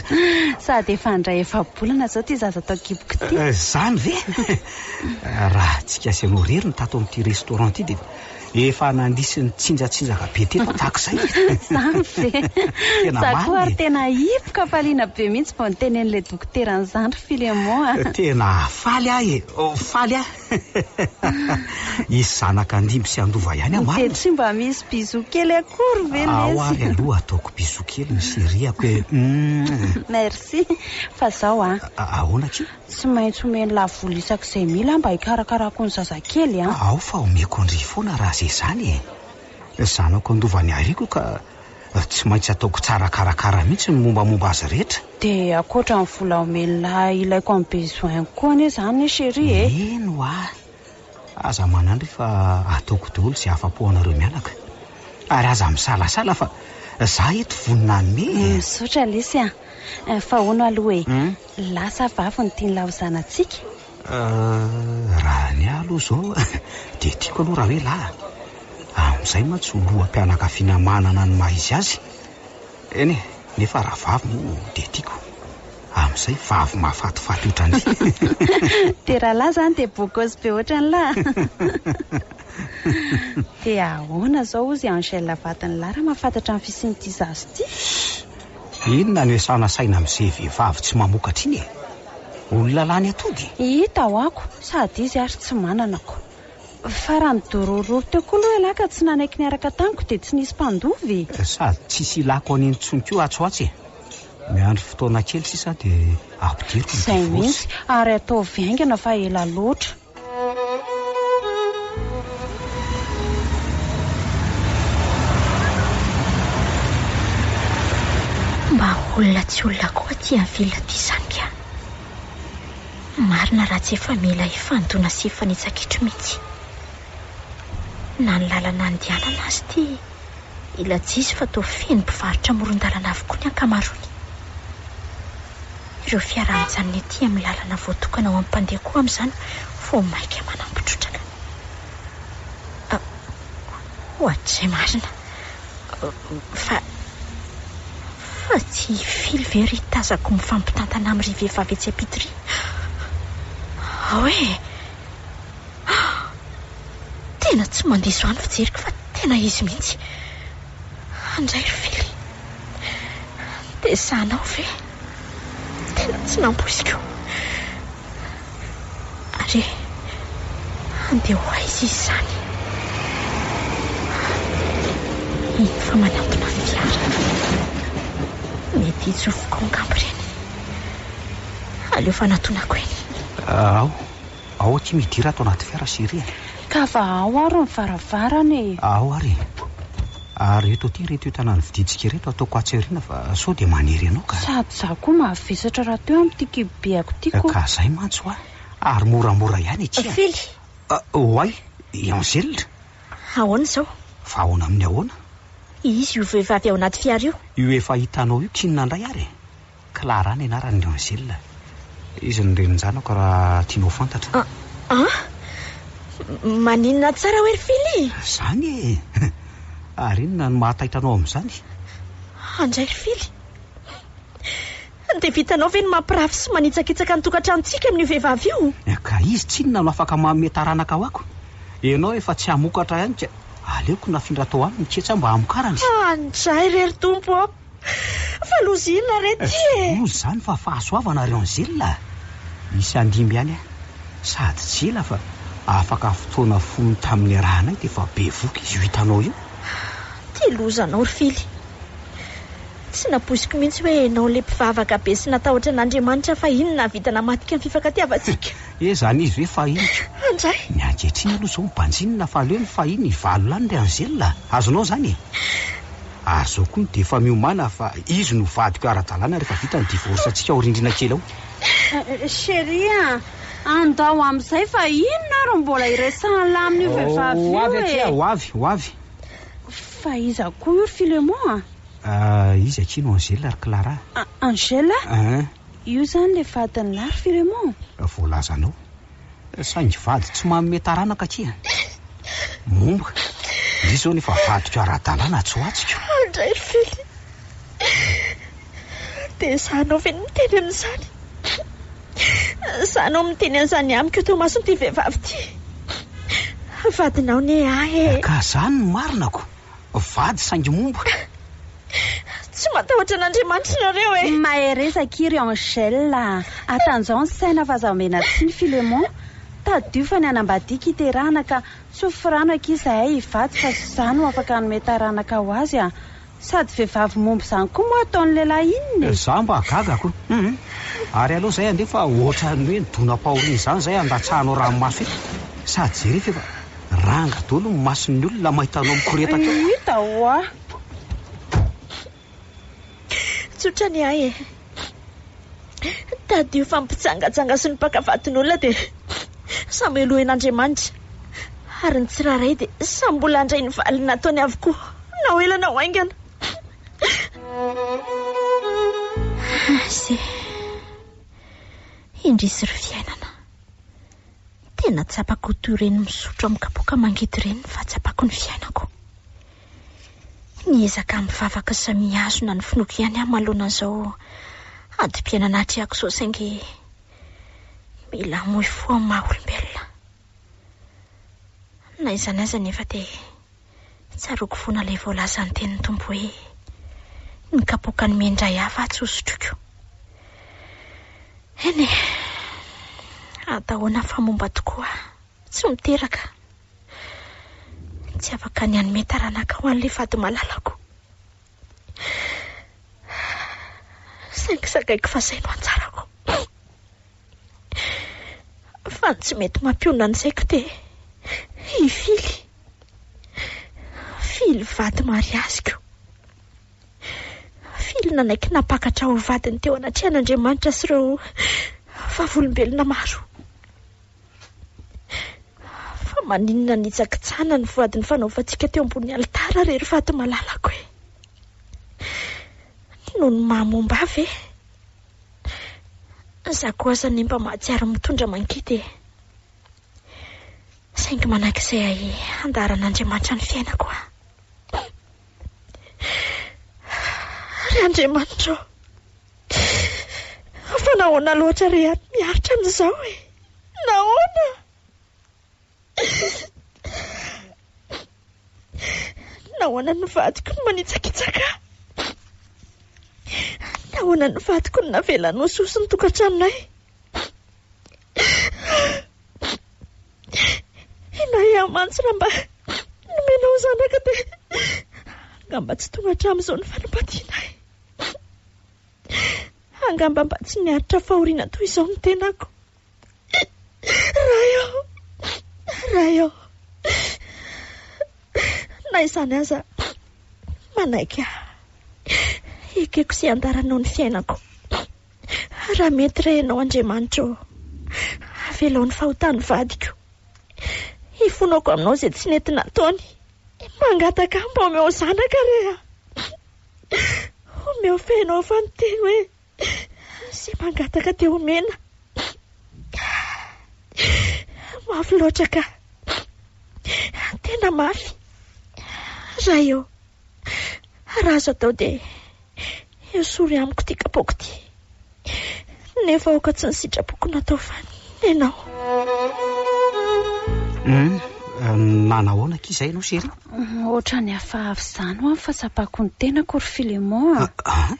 Sady efa handray efa-bolana izao ity zaza tao an-kiboko ity. Izany ve? Raha tsy kiasy anao irery ny tato amin'ity restaurant ity dia Efa nandiso ny tsinjatsinjaka be teto tahaka izay e! Izany ve? Tena Za koa ary tena hipoka hafaliana be mihitsy vao nitenen'ilay dokotera an'izany ry Philemon a! Tena faly aho e! Faly aho! Hisy zanaka handimby sy handova ihany aho marina e! Dia tsy mba misy bisous kely akory ve lesy? Ao ary aloha ataoko bisous kely ny chérie-ako e! Merci! Fa zao an! Ahoana akia? Tsy maintsy omeny lavoly isak'izay mila mba hikarakarako ny zazakely an! Ao fa omeko an-dry foana raha ze zany e! Zanako andovany ariako ka tsy maintsy ataoko tsara karakara mihitsy ny mombamomba azy rehetra. Dia ankoatra ny vola omeny lahy ilaiko amin'ny besoin-ko koa anie zany chérie e! Mino aho Aza manandry fa ataoko daholo izay afa-po anareo mianaka. Ary aza misalasala fa za eto vonona hanome e! Misaotra lesy a! Fa hono aloha e, lasa vavy ny tian'la ho zanatsika? Euh, raha ny ahy aloha izao dia tiako aloha raha hoe lahy. Amin'izay mantsy ho loham-pianakaviana manana ny maha izy azy. Eny e, nefa raha vavy moa dia tiako. Amin'izay vavy mahafatifaty ohatran'izay. Dia raha lahy izany dia bokôsy be ohatran'ny lahy. Dia ahoana izao hozy i Angèle vadin'ny lahy raha mahafantatra ny fisian'ity zaza ity? Shh! Inona no iasana saina amin'izay vehivavy tsy mamokatra iny e? Olona lany atody? Hita ho ako, sady izy ary tsy manana ko. Fa raha nidorororo teo koa aloha ialahy ka tsy nanaiky niaraka tamiko dia tsy nisy mpandova e! Sady tsisy ilako an'iny intsony koa atsy ho atsy e! Miandry fotoana kely sisa aho dia ampidiriko ny Izay divorce. mihitsy, ary ataovy haingana fa ela loatra. Mba olona tsy olona koa aty avila aty Zambia. Marina raha tsy efa mila hifandona sy hifanitsa-kitro mihitsy. Na ny lalana andehanana aza ity. i Lajisy fa toa feno mpivarotra amoron-dalana avokoa ny ankamaroany. Ireo fiara mijanona ety amin'ny lalana voatokana ho an'ny mpandeha koa amin'izany vao mainka manampy trotraka. Ohatr'izay marina. Fa, fa tsy hifily ve ry tazako mifampitantana amin'ry vehivavy etsy am-pitoria? Ao e! Tena tsy mandiso ahy ny fijeriko fa tena izy mihitsy. Andray ry Fily. Dia sahanao ve? Tena tsy nampoiziko. Ary handeha ho aiza izy izany? Mino fa manantona ny fiara. Mety hitsofoko ao angamba ireny. Aleo fanatonako eny. Ao, Ao akia midira ato anaty fiara sy ery e! Ka fa ao ary ny varavarana e! Ao ary e! Ary eto aty ireto entana novidintsika ireto ataoko atsy aoriana fa sao dia manery anao ka! Sady izaho koa mavesatra rahateo amin'ity kibobeako ity ko! Ka izay mantsy hoa! Ary moramora ihany akia! Fily! Oay! I Angèle! Ahoana izao? Fa ahoana amin'ny ahoana? Izy io vehivavy ao anaty fiara io! Io efa hitanao io k'inona indray ary e! Clara ny anaran' i Angèle. Izy no renin-janako raha tianao ho fantatra. An? Maninona tsara hoe ry Fily? Izany e! Ary inona no mahataitra anao amin'izany? Andray ry Fily, dia vitanao ve ny mampirafy sy manitsakitsaka ny tokantranontsika amin'io vehivavy io? Ka izy tsinona no afaka manome taranaka ho ako? Ianao efa tsy hamokatra ihany ka aleoko nafindra tao aminy ketsy aho mba hamokarany. Andray re ry Tompo ô! Fa loza inona re ty e? Tsy loza izany fa fahasoavana ry Angela a! Misy handimby ihany aho. Sady tsy ela fa afaka fotoana fony tamin'ny niarahanay dia efa bevoka izy io hitanao io. Tia loza anao ry Fily. Tsy nampoiziko mihitsy hoe ianao ilay mpivavaka be sy natahotra an'Andriamanitra fahiny nahavita namadika ny fifankatiavantsika. He, izany izy hoe fahiny ka. Andray! Ny ankehitriny aloha izao mibanjinina fa aleo ny fahiny hivalo lany ry Angela a! Azonao izany e? Ary zao koa dia efa miomana fa izy no vadiko ara-dalàna rehefa vita ny divorce antsika ao rindrina kely ao. Chérie a! Andao amin'izay fa inona ary mbola iresahan'lah amin'io vehivavy io e! Ho avy akia, ho avy, ho avy. Fa iza koa io ry Philemon a? Ah, izy akia no Angèle ry Clara a! Angèle? Io izany ilay vadin'lah ry Philemon? Voalazanao. Saingy vady tsy manome taranaka akia. Momba, ndry izao nefa vadiko ara-dalàna tsy ho atsiko. Andraifily, dia izaho anao ve no miteny amin'izany? Izaho anao miteny an'izany amiko eto imason'ity vehivavy ity? Vadinao ne ahy e! Ka izany no marinako? vady saingy momba. Tsy matahotra an'Andriamanitra nareo e! Mahereza akia ry Angèle a! Atanjao ny saina fa aza omena tsiny Philémon! Tadidio fa ny hanambadiako iterahana ka tsy ho firano akia izahay hivady fa tsy izaho no afaka hanome taranaka ho azy a! Sady vehivavy momba izany koa moa ataon'ny lehilahy inona e! Za mba gaga ko! Hum! Ary aleo izay andeha fa ohatran'ny hoe nidona am-pahoriana izany izay handatsahanao ranomaso eto! Sady jereo fa efa. Ranga dolo ny mason'ny olona mahita anao mikoretaka eo. Hita hoa. Tsotra ny ahy e. Tadidio fa ny mpijangajanga sy ny mpaka vadin'olona dia samy helohen'Andriamanitra ary ny tsirairay dia samy mbola handray ny valiny nataony avokoa na ho ela na ho haingana. Ase. Indrisy ry fiainana. Tena tsapako toy ireny misotro amin'ny kapoaka mangidy ireny ny fahatsapako ny fiainako. Niezaka mivavaka sy mihazona ny finoako ihany aho manoloana an'izao adim-piainana atrehako izao saingy mila hamoy fo amin'ny maha-olombelona. Na izany aza anefa dia. Tsaroako fona ilay voalazan'ny tenin'ny Tompo hoe, Ny kapoakan'ny mendra hafa aho tsy hosotroiko. Eny e, atahoana fa momba tokoa aho, tsy miteraka. Tsy afaka ny hanome taranaka ho an'ilay vady malalako. Saingy zakaiko fa izay no anjarako. fa tsy mety mampionona ny saiko te hifily fily vady mariaziko fily nanaiky nampakatra ho vadiny teo anatrehan'Andriamanitra sy ireo vavolombelona maro fa maninona nitsakitsahana ny voady ny fanaovantsika teo ambony alitara rery vady malalako e noho ny maha momba ve Za koa aza anie mba mahatsiaro mitondra mangidy e! Saingy manak'izay handaharan'Andriamanitra ny fiainako aho. Ary Andriamanitra ô! Fa nahoana loatra re aho no miaritra an'izao e! Nahoana? Nahoana ny vadiko no manitsakitsaka ahy? Nahoana ny vadiko no navelany ho soso ny tokantranonay? Inay aho mantsy raha mba nomenao zanaka dia angamba tsy tonga hatramin'izao ny fanambadianay. Angamba mba tsy miaritra fahoriana toy izao ny tenako. Ray ô! Ray ô! Na izany aza, manaiky ahy. Hekeko sy handaranao ny fiainako. Raha mety re ianao Andriamanitra ô! Avelao ny fahotan'ny vadiko. Hifonako aminao izay tsy nety nataony. Mangataka mba omeo zanaka re aho. Omeo feno ao fanintelony hoe. Sy mangataka dia omena. Mafy loatra ka. Tena mafy. Raha eo. Raha azo atao dia esory amiko ity kapoaka ity. Nefa aoka tsy ny sitrapoko no atao fa ny anao. Hum, manahoana akia izay ianao chérie? Ohatrany hafahafa izany ho'a ny fahatsapako ny tenako ry Philémon a. Ah, ah.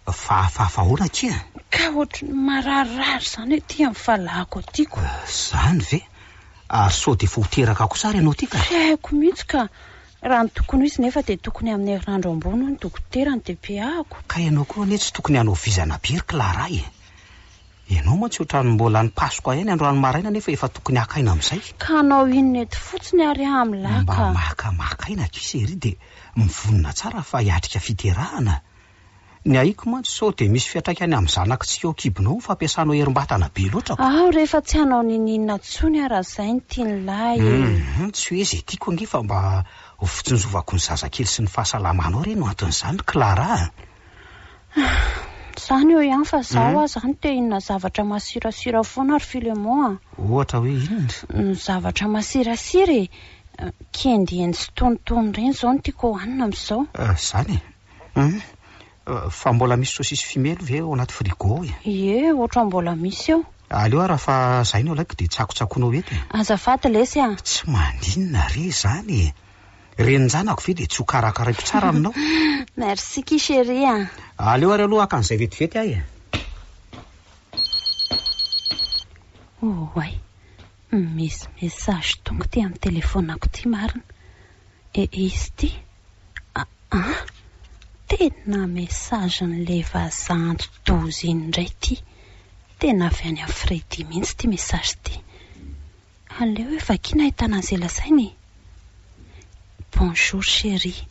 Fahafahafa ahoana akia an? Ka ohatry ny mararirary izany aty amin'ny fahalahako aty ko. Izany ve? Ary sao dia efa ho teraka kosa ary ianao aty ka? Tsy haiko mihitsy ka. Raha ny tokony ho izy nefa dia tokony amin'ny herinandro ambony hoy ny dokotera ny DPA-ko. Ka ianao koa anie tsy tokony hanao vizana be ry Clara e! Ianao mantsy ohatran'ny mbola any Pasoka ihany androany maraina nefa efa tokony haka aina amin'izay. Ka hanao inona eto fotsiny ary aho amin'lah ka? Mba makamaka aina akia chérie dia mivonona tsara fa hiatrika fiterahana Ny aiko mantsy sao dia misy fiantraikany amin'ny zanakitsika ao an-kibonao ny fampiasanao herim-batana be loatra ko. Aho re efa tsy hanao niniana intsony aho raha izay no tian'i lahy e! Hum, tsy hoe izay tiako ange fa mba ho fitsinjovako ny zazakely sy ny fahasalamanao re no anton'izany Clara a! Ah, izany eo ihany fa izaho aza no te hinona zavatra masirasira foana ry Philemon a! Ohatra hoe inona? Ny zavatra masirasira e! Kiendiendy sy tonitony ireny izao no tiako hohanina amin'izao. Izany e! Hum, fa mbola misy sosisy fimely ve ao anaty frigo ao e? Ie, ohatran'ny mbola misy eo. Aleo ary raha fa zay no alaiko dia tsakotsakoinao eto e! Azafady lesy a! Tsy maninona re izany e! Renin-janako ve dia tsy ho karakaraiko tsara aminao? Merci ki chérie a! Aleo ary aloha haka an'izay vetivety aho e! Oay, misy message tonga ity amin'ny telephone-ako ity marina. Ehe izy ity. Aa! Tena message n'ilay vazaha anti-doza iny indray ity. Tena avy any amin'i Freddy mihitsy ity message ity. Aleo hoe vakiana ahitana an'izay lazaina e! Bonjour chérie.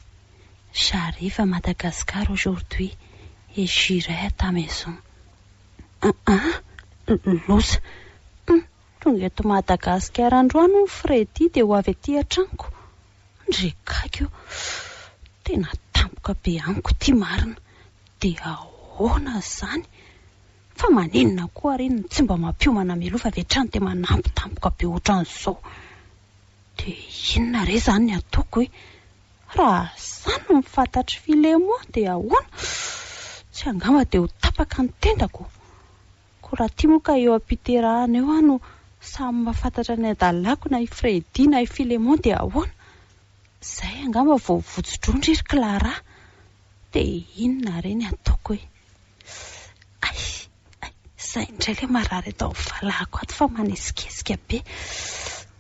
J'arrive à Madagascar aujourd'hui et j'irai à ta maison. Aa! Loza. Hum! Tonga eto Madagasikara androany hono Freddy dia ho avy aty an-tranoko. Ndry kaiky o! Tena tampoka be amiko ity marina! Dia ahoana izany? Fa maninona koa ary iny no tsy mba mampiomana mialoha fa avy hatrany dia manampy tampoka be ohatran'izao? Dia inona re izany ny ataoko e? Raha zany no mifantatr'i Filemon dia ahoana? Tsy angamba dia ho tapaka ny tendako? Ko raha ty moa ka eo ampiterahana eo aho no samy mahafantatra ny adalako na i Freddy na i Filemon dia ahoana? Zay angamba vao votso-drondry ry Clara! Dia inona re ny ataoko e! Ay! Ay! Zay indray le marary eto amin'ny valahako ato fa manesikesika be!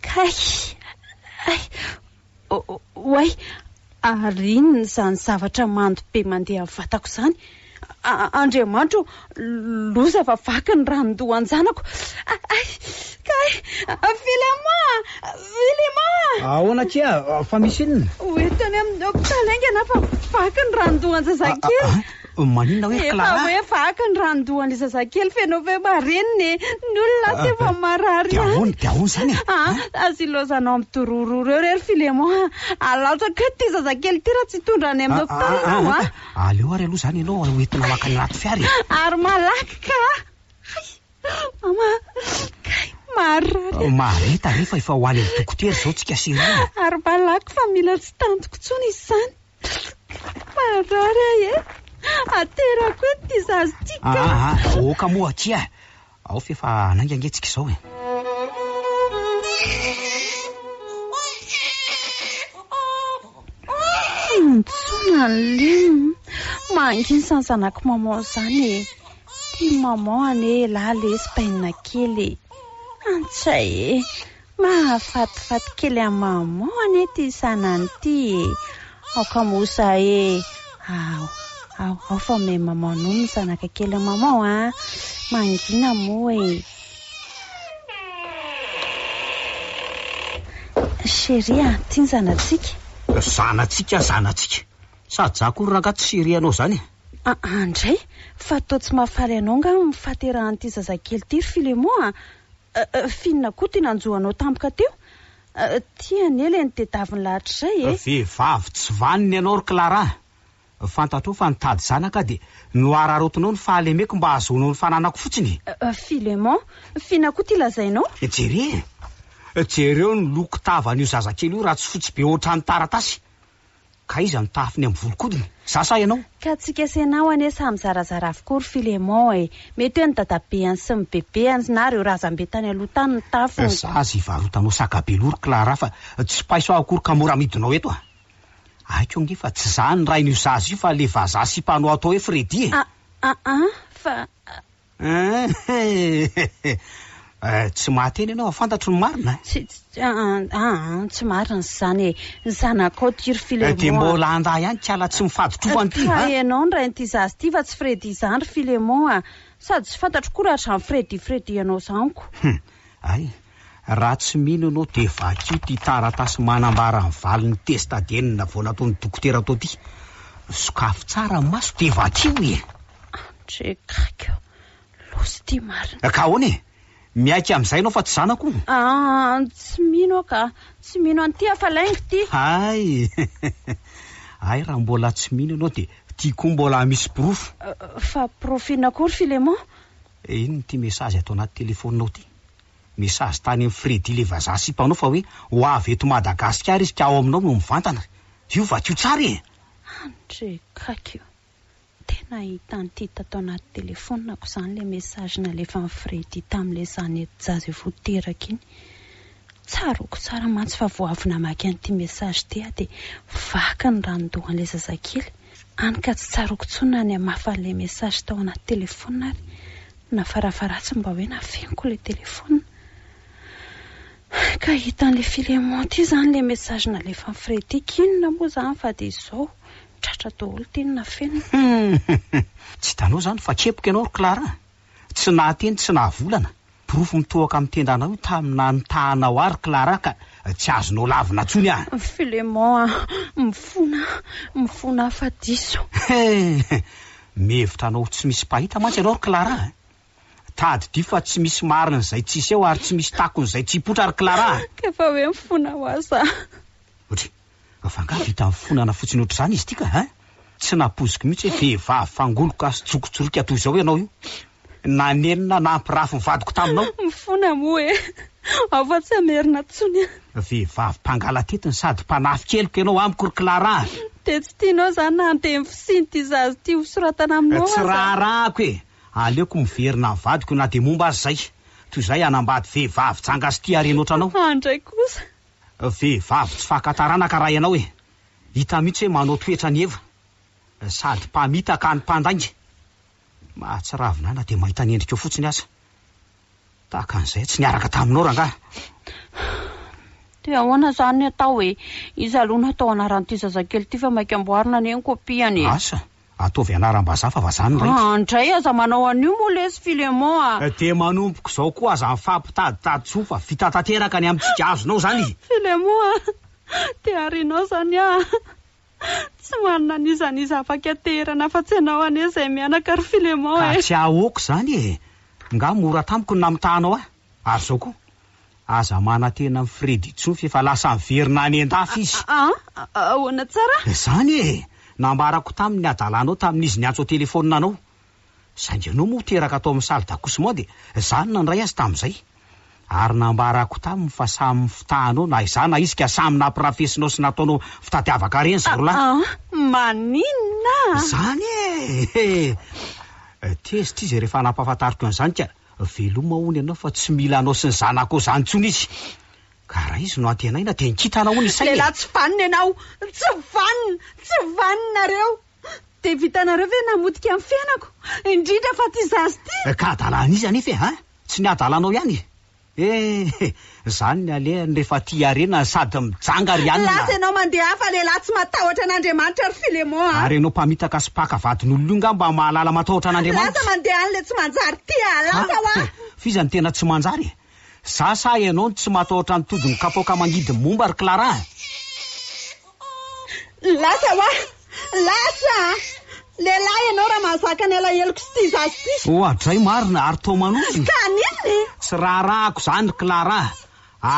Kay! Ay! Oay! Ary inona izany zavatra mando be mandeha amin'ny vatako izany? Andriamanitra ô! Loza fa vaky ny ranon-doha an-janako! Ay! Kay! Vilema! Vilema! Ahoana akia? Fa misy inona? Ho entiny amin'ny hopitaly haingana aho fa vaky ny ranon-doha an-jazakely! Maninona hoe Clara? Efa hoe vaky ny ranon-dohan'ilay zazakely feno feo marenina e! Ny olona aty efa marary ihany. Dia ahoana? Dia ahoana izany e? Ah, aza ilaozanao midorororo eo re ry Filemon a! Alatsako eto ity zazakely ity raha tsy hitondra any amin'ny hopitaly ianao a! Aleo ary aloha izany ianao ho entina maka ny anaty fiara e! Ary malaky ka a! Hay! Mama kay! Marary a! Mahareta re fa efa ho any amin'ny dokotera izao tsika sy ireo e! Ary malaky fa mila tsy tantiko intsony izy izany! Marary ahy e! Aterako eto ity zaza ity ka! Aa, ah, ah, aoka moa akia e! Ao f'efa hanainga ange tsika izao e! Intsona ny lim! Manginy izany zanak'i maman izany e! Tian'i maman anie elah lesy bainina kely e! Antsay e! Mahafatifaty kely an'i Maman anie ity Sanany ity e! Aoka moa sa e! Ao, ao, ao fa me Maman nono ny zanaka kelin'i Maman a! Mangina moa e! Chérie a! Ity ny zanatsika! Zanatsika, zanatsika! Sa ajà akory rangahy tsy chérie anao izany e! Aa ndray! Fa toa tsy mahafaly anao angaha ny fahaterahan'ity zazakely ity ry Filemon a! Finina Koto iny anjo anao tampoka teo Ty anie le nitedaviny lahatr'izay e! Vehivavy tsy vanona ianao ry Clara! Fantatrao fa nitady zanaka aho dia nohararaotinao ny fahalemeko mba hahazoanao ny fananako fotsiny e! Philemon, Finina Koto ity lazainao? Jereo e! Jereo ny loko tavan'io zazakely io raha tsy fotsy be ohatran'ny taratasy! Ka iza no tahafiny amin'ny volon-kodiny? Za sa ianao? Ka tsy kesenao anie samy zarazara avokoa ry Philémon e! Mety hoe ny dadabeany sy ny bebeany na ireo razambe tany aloha tany no tafiny. Za aza hivarotanao saka be loha ry Clara fa tsy paiso aho akory ka mora amidinao eto a! Haiko ange fa tsy za no rain'io zaza io fa le vazaha sipanao atao hoe Freddy e! A-a-a! Fa Eehh tsy mahateny ianao, fantatro ny marina eh! Tsy, tsy, aa, aa, tsy marina izany e! Ny zanakao Tiry Filemon a! Dia mbola handà ihany kiala tsy mifaditrovana ity an! Ka ianao no rain'ity zaza ity fa tsy Freddy izany ry Filemon a! Sady tsy fantatro koa raha hatramin'ny Freddy Freddy ianao izany ko! Hum! Hay! Raha tsy mino ianao dia vakio ity taratasy manambara ny valin'ny test ADN vao nataon'ny dokotera tao ity. Sokafy tsara ny maso dia vakio e! Andrekako! Losy ity marina. Ka ahoana e? Miaiky amin'izay ianao fa tsy zanako? Ah, tsy mino aho ka! Tsy mino an'ity hafa lainga ity! Hay! Hay raha mbola tsy mino ianao dia ity koa mbola misy porofo. Fa porofo inona koa ry Filemon? Inona ity mesazy ato anaty telefaoninao ity? Message tany am Freddy le vazaha sipa anao fa hoe ho avy eto Madagasikara izy ka ao aminao no mivantana re. Io vakio tsara e! Andry Kakio. Tena hita an'ity tato anaty telefonako izany ilay message nalefan'i Freddy tamin'ilay zanety jaza efa ho teraka iny. Tsaroako tsara mantsy fa vao avy namaky an'ity message ity aho dia vaky ny ranon-dohan'ilay zazakely. any ka tsy tsaroako tsony na ny hamafa an'ilay message tao anaty telephone ary na farafaharatsiny mba hoe nafeniko ilay telephone ka hita an'ilay Philemon ity izany ilay message nalefan'i Fredrick inona moa izany fa dia izao tratra daholo ity ny nafenina. Humm tsy hitanao izany fa kepoka ianao ry Clara a! Tsy nahateny tsy nahavolana, porofo mitohoka amin'ny tendanao io tamina nitahanao ary Clara ka tsy azonao lavina tsony an! Philemon an! Mifona, mifona afa diso. Hee! Mihevitra anao ho tsy misy mpahita mantsy ianao ry Clara an! Tadidio fa tsy misy marina izay tsy hiseho ary tsy misy takona izay tsy hipoitra ry Clara an! Ka efa hoe mifona ho aza an! Ohatry. Av'angaha vita nifonana fotsiny ohatr'izany izy ity ka hein? Tsy nampoiziko mihitsy hoe vehivavy fangoloka sy jokotsoroka toy izao ianao io. Nanenina nampirafy ny vadiko taminao. Mifona moa e! Ao fa tsy hamerina intsony an! Vehivavy mpangalatetiny sady mpanafika heloka ianao amiko ry Clara a! Dia tsy tianao izany na handeha ny fisian'ity zaza ity hosoratana aminao aza? Tsy raharahako e! Aleoko miverina amin'ny vadiko na dia momba aza izay. Toy izay hanambady vehivavy janga sy tia harena ohatranao. An-dray kosa! Vehivavy tsy faka taranaka raha ianao e! Hita mihitsy hoe manao toetra an'i Eva, sady mpamitaka any mpandainga. Mahatsiravina ahy na dia mahita ny endrikao fotsiny aza. Tahaka an'izay tsy niaraka taminao rangahy. Dia ahoana izany ny atao e? Iza aloha no hatao anaran'ity zazakely ity fa maika amboarina anie ny kopiany e! Asa! Ataovy anaram-bazaha fa vazaha ny raiko. An dray aza manao an'io moa lesy Philemon a! Dia manomboka izao koa aza mifampitaditady tsoa fa vita tanteraka ny amintsika, azonao izany e! Philemon a! Dia harinao izany a! Tsy manana an'iza an'iza afaka haterana afa-tsy ianao anie izay mianaka ry Philemon e! Ka tsy ahoako izany e! Nga mora tamiko ny namitahanao ahy? Ary zao koa, aza manantena an'i Freddy intsony fa efa lasa niverina any an-dafy izy. A, a, a, ahoana tsara? Izany e! Nambarako taminy ny hadalanao tamin'izy niantso an-telefaonina anao. Saingy ianao moa teraka tao amin'ny salle d'accouchement dia izaho no nandray azy tamin'izay. Ary nambarako taminy fa samy mifitahanao na izaho na izy ka samy nampirafesinao sy nataonao fitadiavaka harena izy roa lahy. A, a, maninona? Izany e! He! Tezitra izy rehefa nampahafantariko an'izany ka Veloma hono ianao fa tsy mila anao sy ny zanakao izany intsony izy. Ka raha izy no antenaina dia nkitana hono ny sainy e! Lehilahy tsy vanona ianao! Tsy vanona! Tsy vanona nareo! Dia vitanareo ve ny namotika ny fiainako? Indrindra fa ity zaza ity! Ka adala an'iza anefa e! Tsy ny adalanao ihany e! Zany ny alehany rehefa aty harena sady mijanga ry anona. Lasa ianao mandeha hafa lehilahy tsy matahotra an'Andriamanitra ry Filemon a. Ary ianao mpamitaka sy mpaka vadin'olona io ngamba mahalala matahotra an'Andriamanitra. Lasa mandeha any le tsy manjary ty a. Lasa hoa. Hah? F'iza no tena tsy manjary e? Za sa ianao no tsy matahotra ny todin'ny kapoaka mangidy momba ry Clara a? Lasa hoa! Lasa! Lehilahy ianao raha mahazaka ny alaheloko sy tia zaza ity! Oadray marina ary toa manozona! Ka haninona e? Tsy raharahako izany ry Clara a!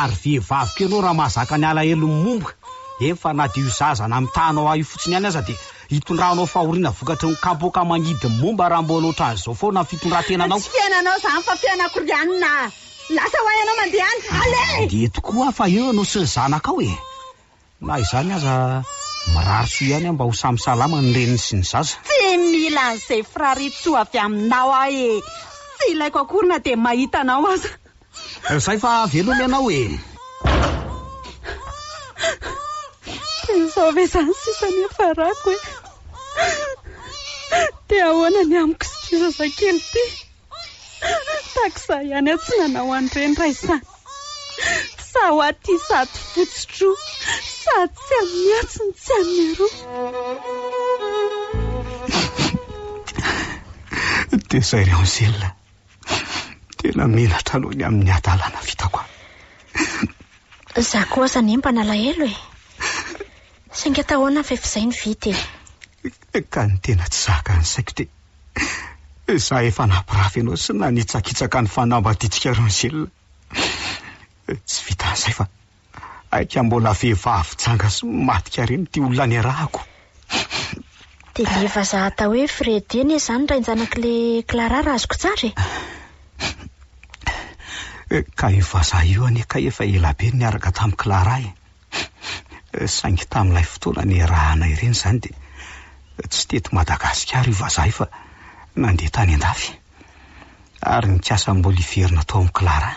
Ary vehivavy koa ianao raha mahazaka ny alahelon'ny momba! Efa na dia io zaza namitahanao ahy io fotsiny ihany aza dia hitondranao fahoriana vokatry ny kapoaka mangidy ny momba raha mbola ohatran'izao foana ny fitondrantenanao! Tsy fiainanao izany fa fiainako ry anona a! Lasa hoa ianao mandeha any! Aleha e! Dia tokoa aho fa eo ianao sy ny zanakao e! Na izany aza, mirary soa ihany aho mba ho samy salama ny reniny sy ny zaza. Tsy mila an'izay firarin-tsoa avy aminao aho e! Tsy ilaiko akory na dia mahita anao aza. Izay fa veloma ianao e! Dia izao ve izany sisa ny hiafarako e! Dia ahoana ny amiko sy ity zazakely ity? Taxa ihany aho tsy nanao an'ireny raisana. Sa ho aty sady fotsy tro, sady tsy an'ny atsy no tsy an'ny aroa. Dia izay ry Angèle a! Tena menatra aloha ny amin'ny hadalana vitako a! Izaho koa aza anie mba nalahelo e! Saingy atao ahoana fa efa izay ny vita e! Ka ny tena tsy zaka ny saiko dia izaho efa nampirafy anao sy nanitsakitsaka ny fanambadiantsika Rangel. Tsy vitan'izay fa aika mbola vehivavy janga sy madika ireny ity olona niarahako. Dia ilay vazaha atao hoe Freddy anie izany rain-janak'ilay Clara raha azoko tsara e? Ka io vazaha io anie kay efa ela be no niaraka tamin'i Clara e! Hum, saingy tamin'ilay fotoana niarahana ireny izany dia tsy teto Madagasikara io vazaha io fa nandeha tany an-dafy, ary nikasa mbola hiverina tao amin'i Clara.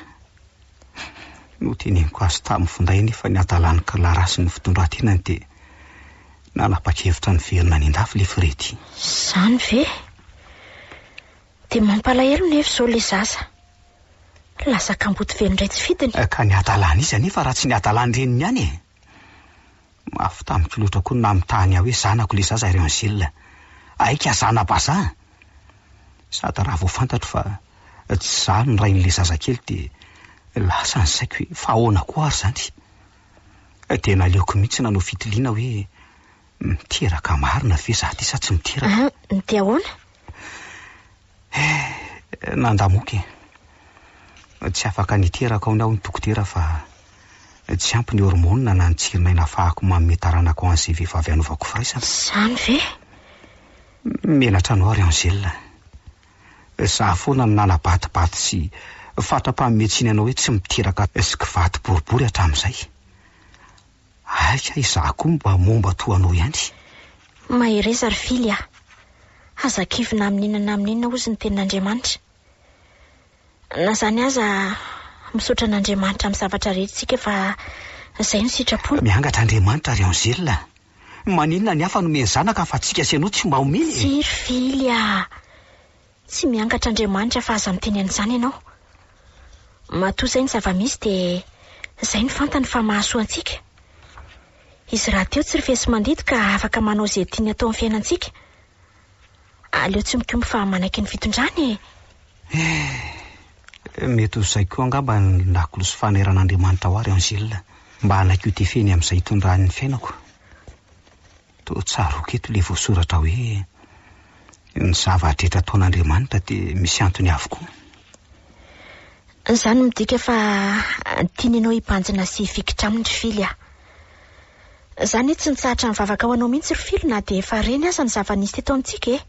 Noteneniko azy tamin'ny finday anefa ny hadalan'i Clara sy ny fitondran-tenany dia nanapa-kevitra niverina any an-dafy ilay Freddy. Izany ve? Dia mampalahelo nefa izao ilay zaza. Lasa kamboty velona iray tsy fidiny. Ka ny hadalan'iza anefa raha tsy ny hadalan'ny reniny ihany e! Mafy tamiko loatra koa ny namitahany ahy hoe zanako ilay zaza ry Angèle. Aika zana-bazaha! Sady raha vao fantatro fa tsy izaho no rain'ilay zazakely dia lasa ny saiko hoe fa ahoana koa ary izany? Dia naleoko mihitsy nanao fitiliana hoe Miteraka marina ve za ty sa tsy miteraka? An, ny te ahoana? Eh, nanda moka e. Tsy afaka niteraka aho ny aho ny dokotera fa tsy ampy ny hormonina na ny tsirin'aina afahako manome taranaka ho an'izay vehivavy anovako firaisana. Zany ve? Menatra anao ry Angèle. Za foana no nanabatibaty sy fatra-panome tsiny anao hoe tsy miteraka sy kivady boribory hatramin'izay. Aika izaho koa mba momba toa anao ihany. Mahereza ry Fily a! Aza kivy na amin'inona na amin'inona hozy ny tenin'Andriamanitra. Na izany aza, misaotra an'Andriamanitra amin'ny zavatra rehetra isika fa izay no sitrapony. Miangatra Andriamanitra ry Angèle a! Maninona ny hafa nomeny zanaka fa antsika sy ianao tsy mba omeny e! Tsia ry Fily a! Tsy miangatra Andriamanitra fa aza miteny an'izany ianao. Matoa izay ny zava-misy dia izay no fantany fa mahasoa antsika. Izy rahateo tsy rifesi-mandidy ka afaka manao izay tiany atao amin'ny fiainantsika. Aleo tsy mikomby fa manaiky ny fitondrany e! Eh, mety ho izay koa angamba ny lakolosy fameran'Andriamanitra ao ary Angèle mba hanaiky ho tefeny amin'izay itondrany ny fiainako. Toa tsaroako eto ilay voasoratra hoe, Ny zava-drehetra ataon'Andriamanitra dia misy antony avokoa. Izany midika fa tiany ianao hibanjina sy hifikitra Aminy ry Fily a! Za anie tsy nitsahatra nivavaka ho anao mihitsy ry Fily na dia efa reny aza ny zava-nisy teto amintsika e!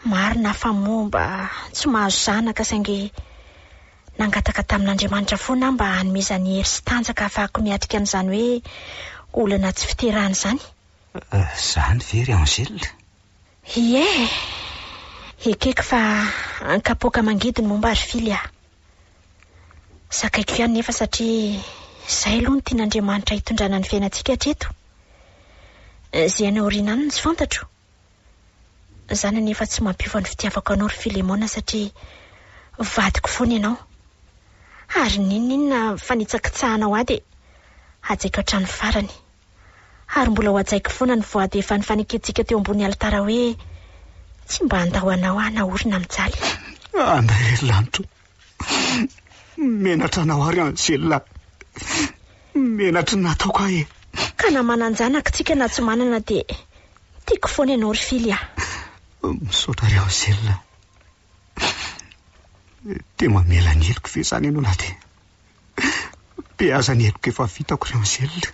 Marina fa momba tsy mahazo zanaka saingy nangataka tamin'Andriamanitra foana aho mba hanomezany hery sy tanjaka hahafahako miatrika an'izany hoe olana tsy fiterahana izany. Izany ve ry Angèle? Ie! Ekeko fa an-kapoaka mangidy ny momba ry Fily aho. Zakaiko ihany nefa satria izay aloha no tian'Andriamanitra hitondrana ny fiainantsika hatreto. Izay any aoriana any no tsy fantatro. Za nefa tsy mampiova ny fitiavako anao ry Filemona satria vadiko foana ianao. Ary n'inon'inona fanitsakitsahanao ahy dia hajaiko hatramin'ny farany. Ary mbola ho hajaiko foana ny voady efa nifanekentsika teo ambony alitara hoe tsy mba handao anao aho naorina mijaly. Andahery lanitra o! Menatra anao ary Angela. Menatry ny nataoko ahy e. Ka na manan-janaka tsika na tsy manana dia tiako foana ianao ry Fily a. Misaotra ry Angela. Dia mamela ny heloko ve izany ianao na dia. Dia aza ny heloka efa vitako ry Angèle.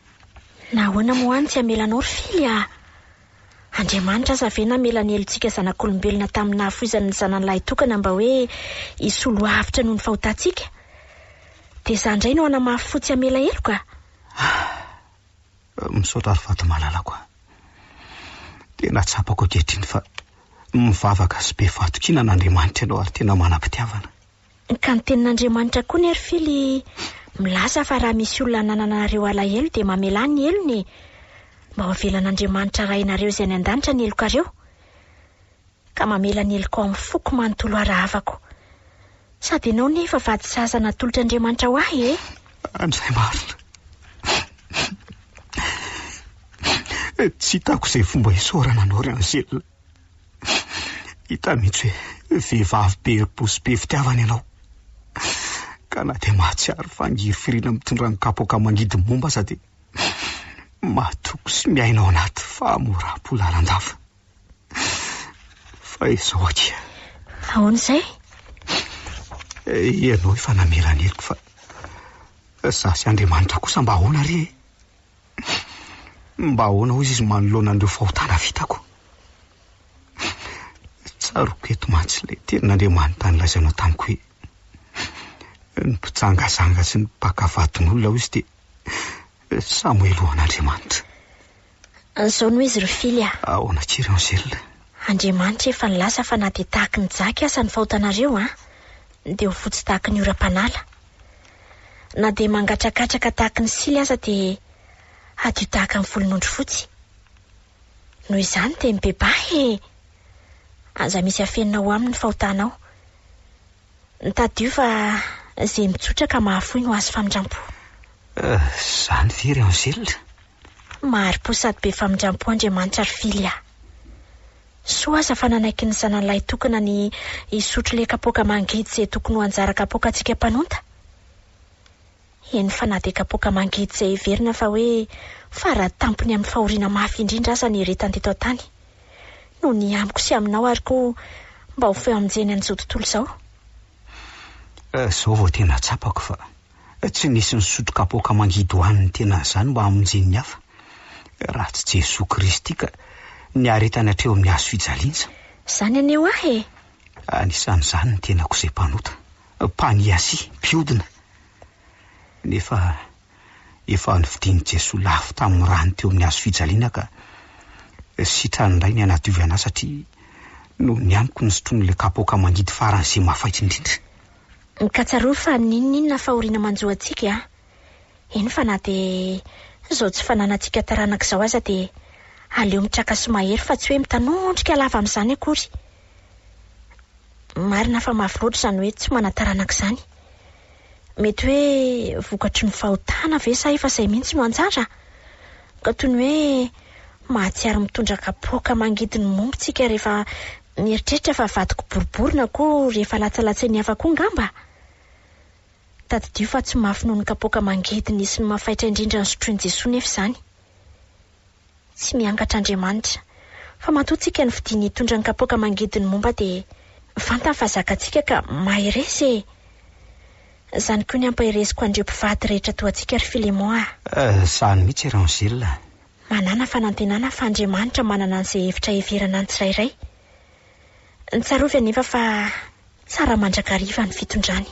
Nahoana moa any tsy hamelanao ry Fily ah? Andriamanitra aza ve namela ny helotsika zanak'olombelona tamin'ny nahafoizany ny zanany lahitokana mba hoe hisolo avotra noho ny fahotantsika? Dia izaho indray no hanamafy fo tsy hamela heloka? Ah! Misaotra ry vady malalako ah! Tena tsapako ankehitriny fa mivavaka sy be fahatokiana an'Andriamanitra ianao ary tena manam-pitiavana. Ka ny tenin'Andriamanitra koa ny ry Fily milaza fa raha misy olona hananana anareo alahelo dia mamelà ny helony e! Mba ho avelan'Andriamanitra Rainareo izay any an-danitra ny helokareo. Ka mamela ny helokao amin'ny foko manontolo arahavako. Sady ianao ne efa vady zaza natolotr'Andriamanitra ho ahy e! Andray marina. Tsy hitako izay fomba isaorana anao ry Angèle. Hita mihitsy hoe vehivavy be herim-po sy be fitiavana ianao. Ka na dia mahatsiaro fa angirifiriana mitondra ny kapoaka mangidy momba aza dia mahatoky sy miaina ao anaty fahamoram-po lalandava. Fa izao akia. Ahoana izay? Ianao efa namela ny heloko fa izaho sy Andriamanitra kosa mba ahoana re e? Mba ahoana hozy izy manoloana an'ireo fahotana vitako? Tsaroako eto mantsy ilay tenin'Andriamanitra nilazainao tamiko hoe ny mpijangazanga sy ny mpaka vadin'olona hozy dia samy helohan'Andriamanitra. An'izao no izy ry Fily a! Ahoana akia ry Angèle? Andriamanitra efa nilaza fa na dia tahaky ny jaky aza ny fahotanareo an, dia ho fotsy tahaky ny oram-panala. Na dia mangatrakatraka tahaka ny sily aza dia hadio tahaka ny volon'ondry fotsy. Noho izany dia mibebaha e! Aza misy afenina ho aminy ny fahotanao. Mitadio fa izay mitsotra ka mahafoy no azo famindrampo. Izany ve ry Angèle? Mahari-po sady be famindrampo Andriamanitra ry Fily a! Soa aza fa nanaiky ny zanany lahy tokana ny hisotro le kapoaka mangidy izay tokony ho anjara kapoakantsika mpanonta. Eny fa na dia kapoaka mangidy izay heverina fa hoe fara tampony amin'ny fahoriana mafy indrindra aza nieretany teto an-tany, no ny amiko sy aminao ary koa mba ho feo amin-jeny an'izao tontolo izao. Humm! Izao vao tena tsapako fa Tsy nisy nisotro kapoaka mangidoan'ny tenany zany mba hamonjen'ny hafa raha tsy Jesoa Kristy ka niaretany hatreo amin'ny hazo fijaliana. Zany anie ho ahy e! Anisan'izany ny tenako izay mpanota, mpaniasia, mpiodina. Nefa efa novidian'i Jesoa lafo tamin'ny rany teo amin'ny hazo fijaliana ka sitrany indray ny hanadiovy an'ahy satria noho ny amiko ny sotroin'ilay kapoaka mangidy faran'izay mafaitra indrindra. Mikatsaroa fa n'inon'inona fahoriana manjo antsika e a! Eny fa na dia izao tsy fananantsika taranaka izao aza dia aleo mitraka sy mahery fa tsy hoe mitanondrika lava amin'izany akory. Marina fa mafy loatra izany hoe tsy manan-taranaka izany. Mety hoe vokatry ny fahotana ve sa efa izay mihitsy no anjara? Ka toy ny hoe mahatsiaro mitondra kapoaka mangidy ny momba antsika rehefa Nieritreritra fa vadiko boribory na koa rehefa latsalatsy ny hafa koa ngamba? Tadidio fa tsy mafy noho ny kapoaka mangidiny sy ny mafaitra indrindra nosotroin'i Jesoa nefa izany. Tsy miangatra Andriamanitra, fa matoa tsika ny fidiny hitondra ny kapoaka mangidiny momba dia vantany fa zakatsika ka mahereza e! Zany koa ny ampahereziko an'ireo mpivady rehetra toa antsika ry Filemon a! Eh, sahy mihitsy i Rangel a! Manàna fanantenana fa Andriamanitra manana an'izay hevitra heverana ny tsirairay. Tsarovy anefa fa tsara mandrakariva ny fitondrany.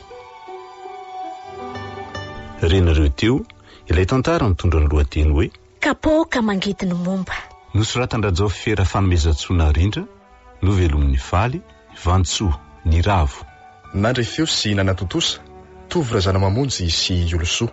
Renareo teo ilay tantara mitondra ny lohateny hoe. Kapoaka mangidy no momba. Nosoratan-dRajaofy Rafanomezantsoa Narindra, novelomin'i Faly, Vantsoa, Niravo. Nandre feo sy nanatontosa, Tovo Razanamamonjy sy Iolosoa.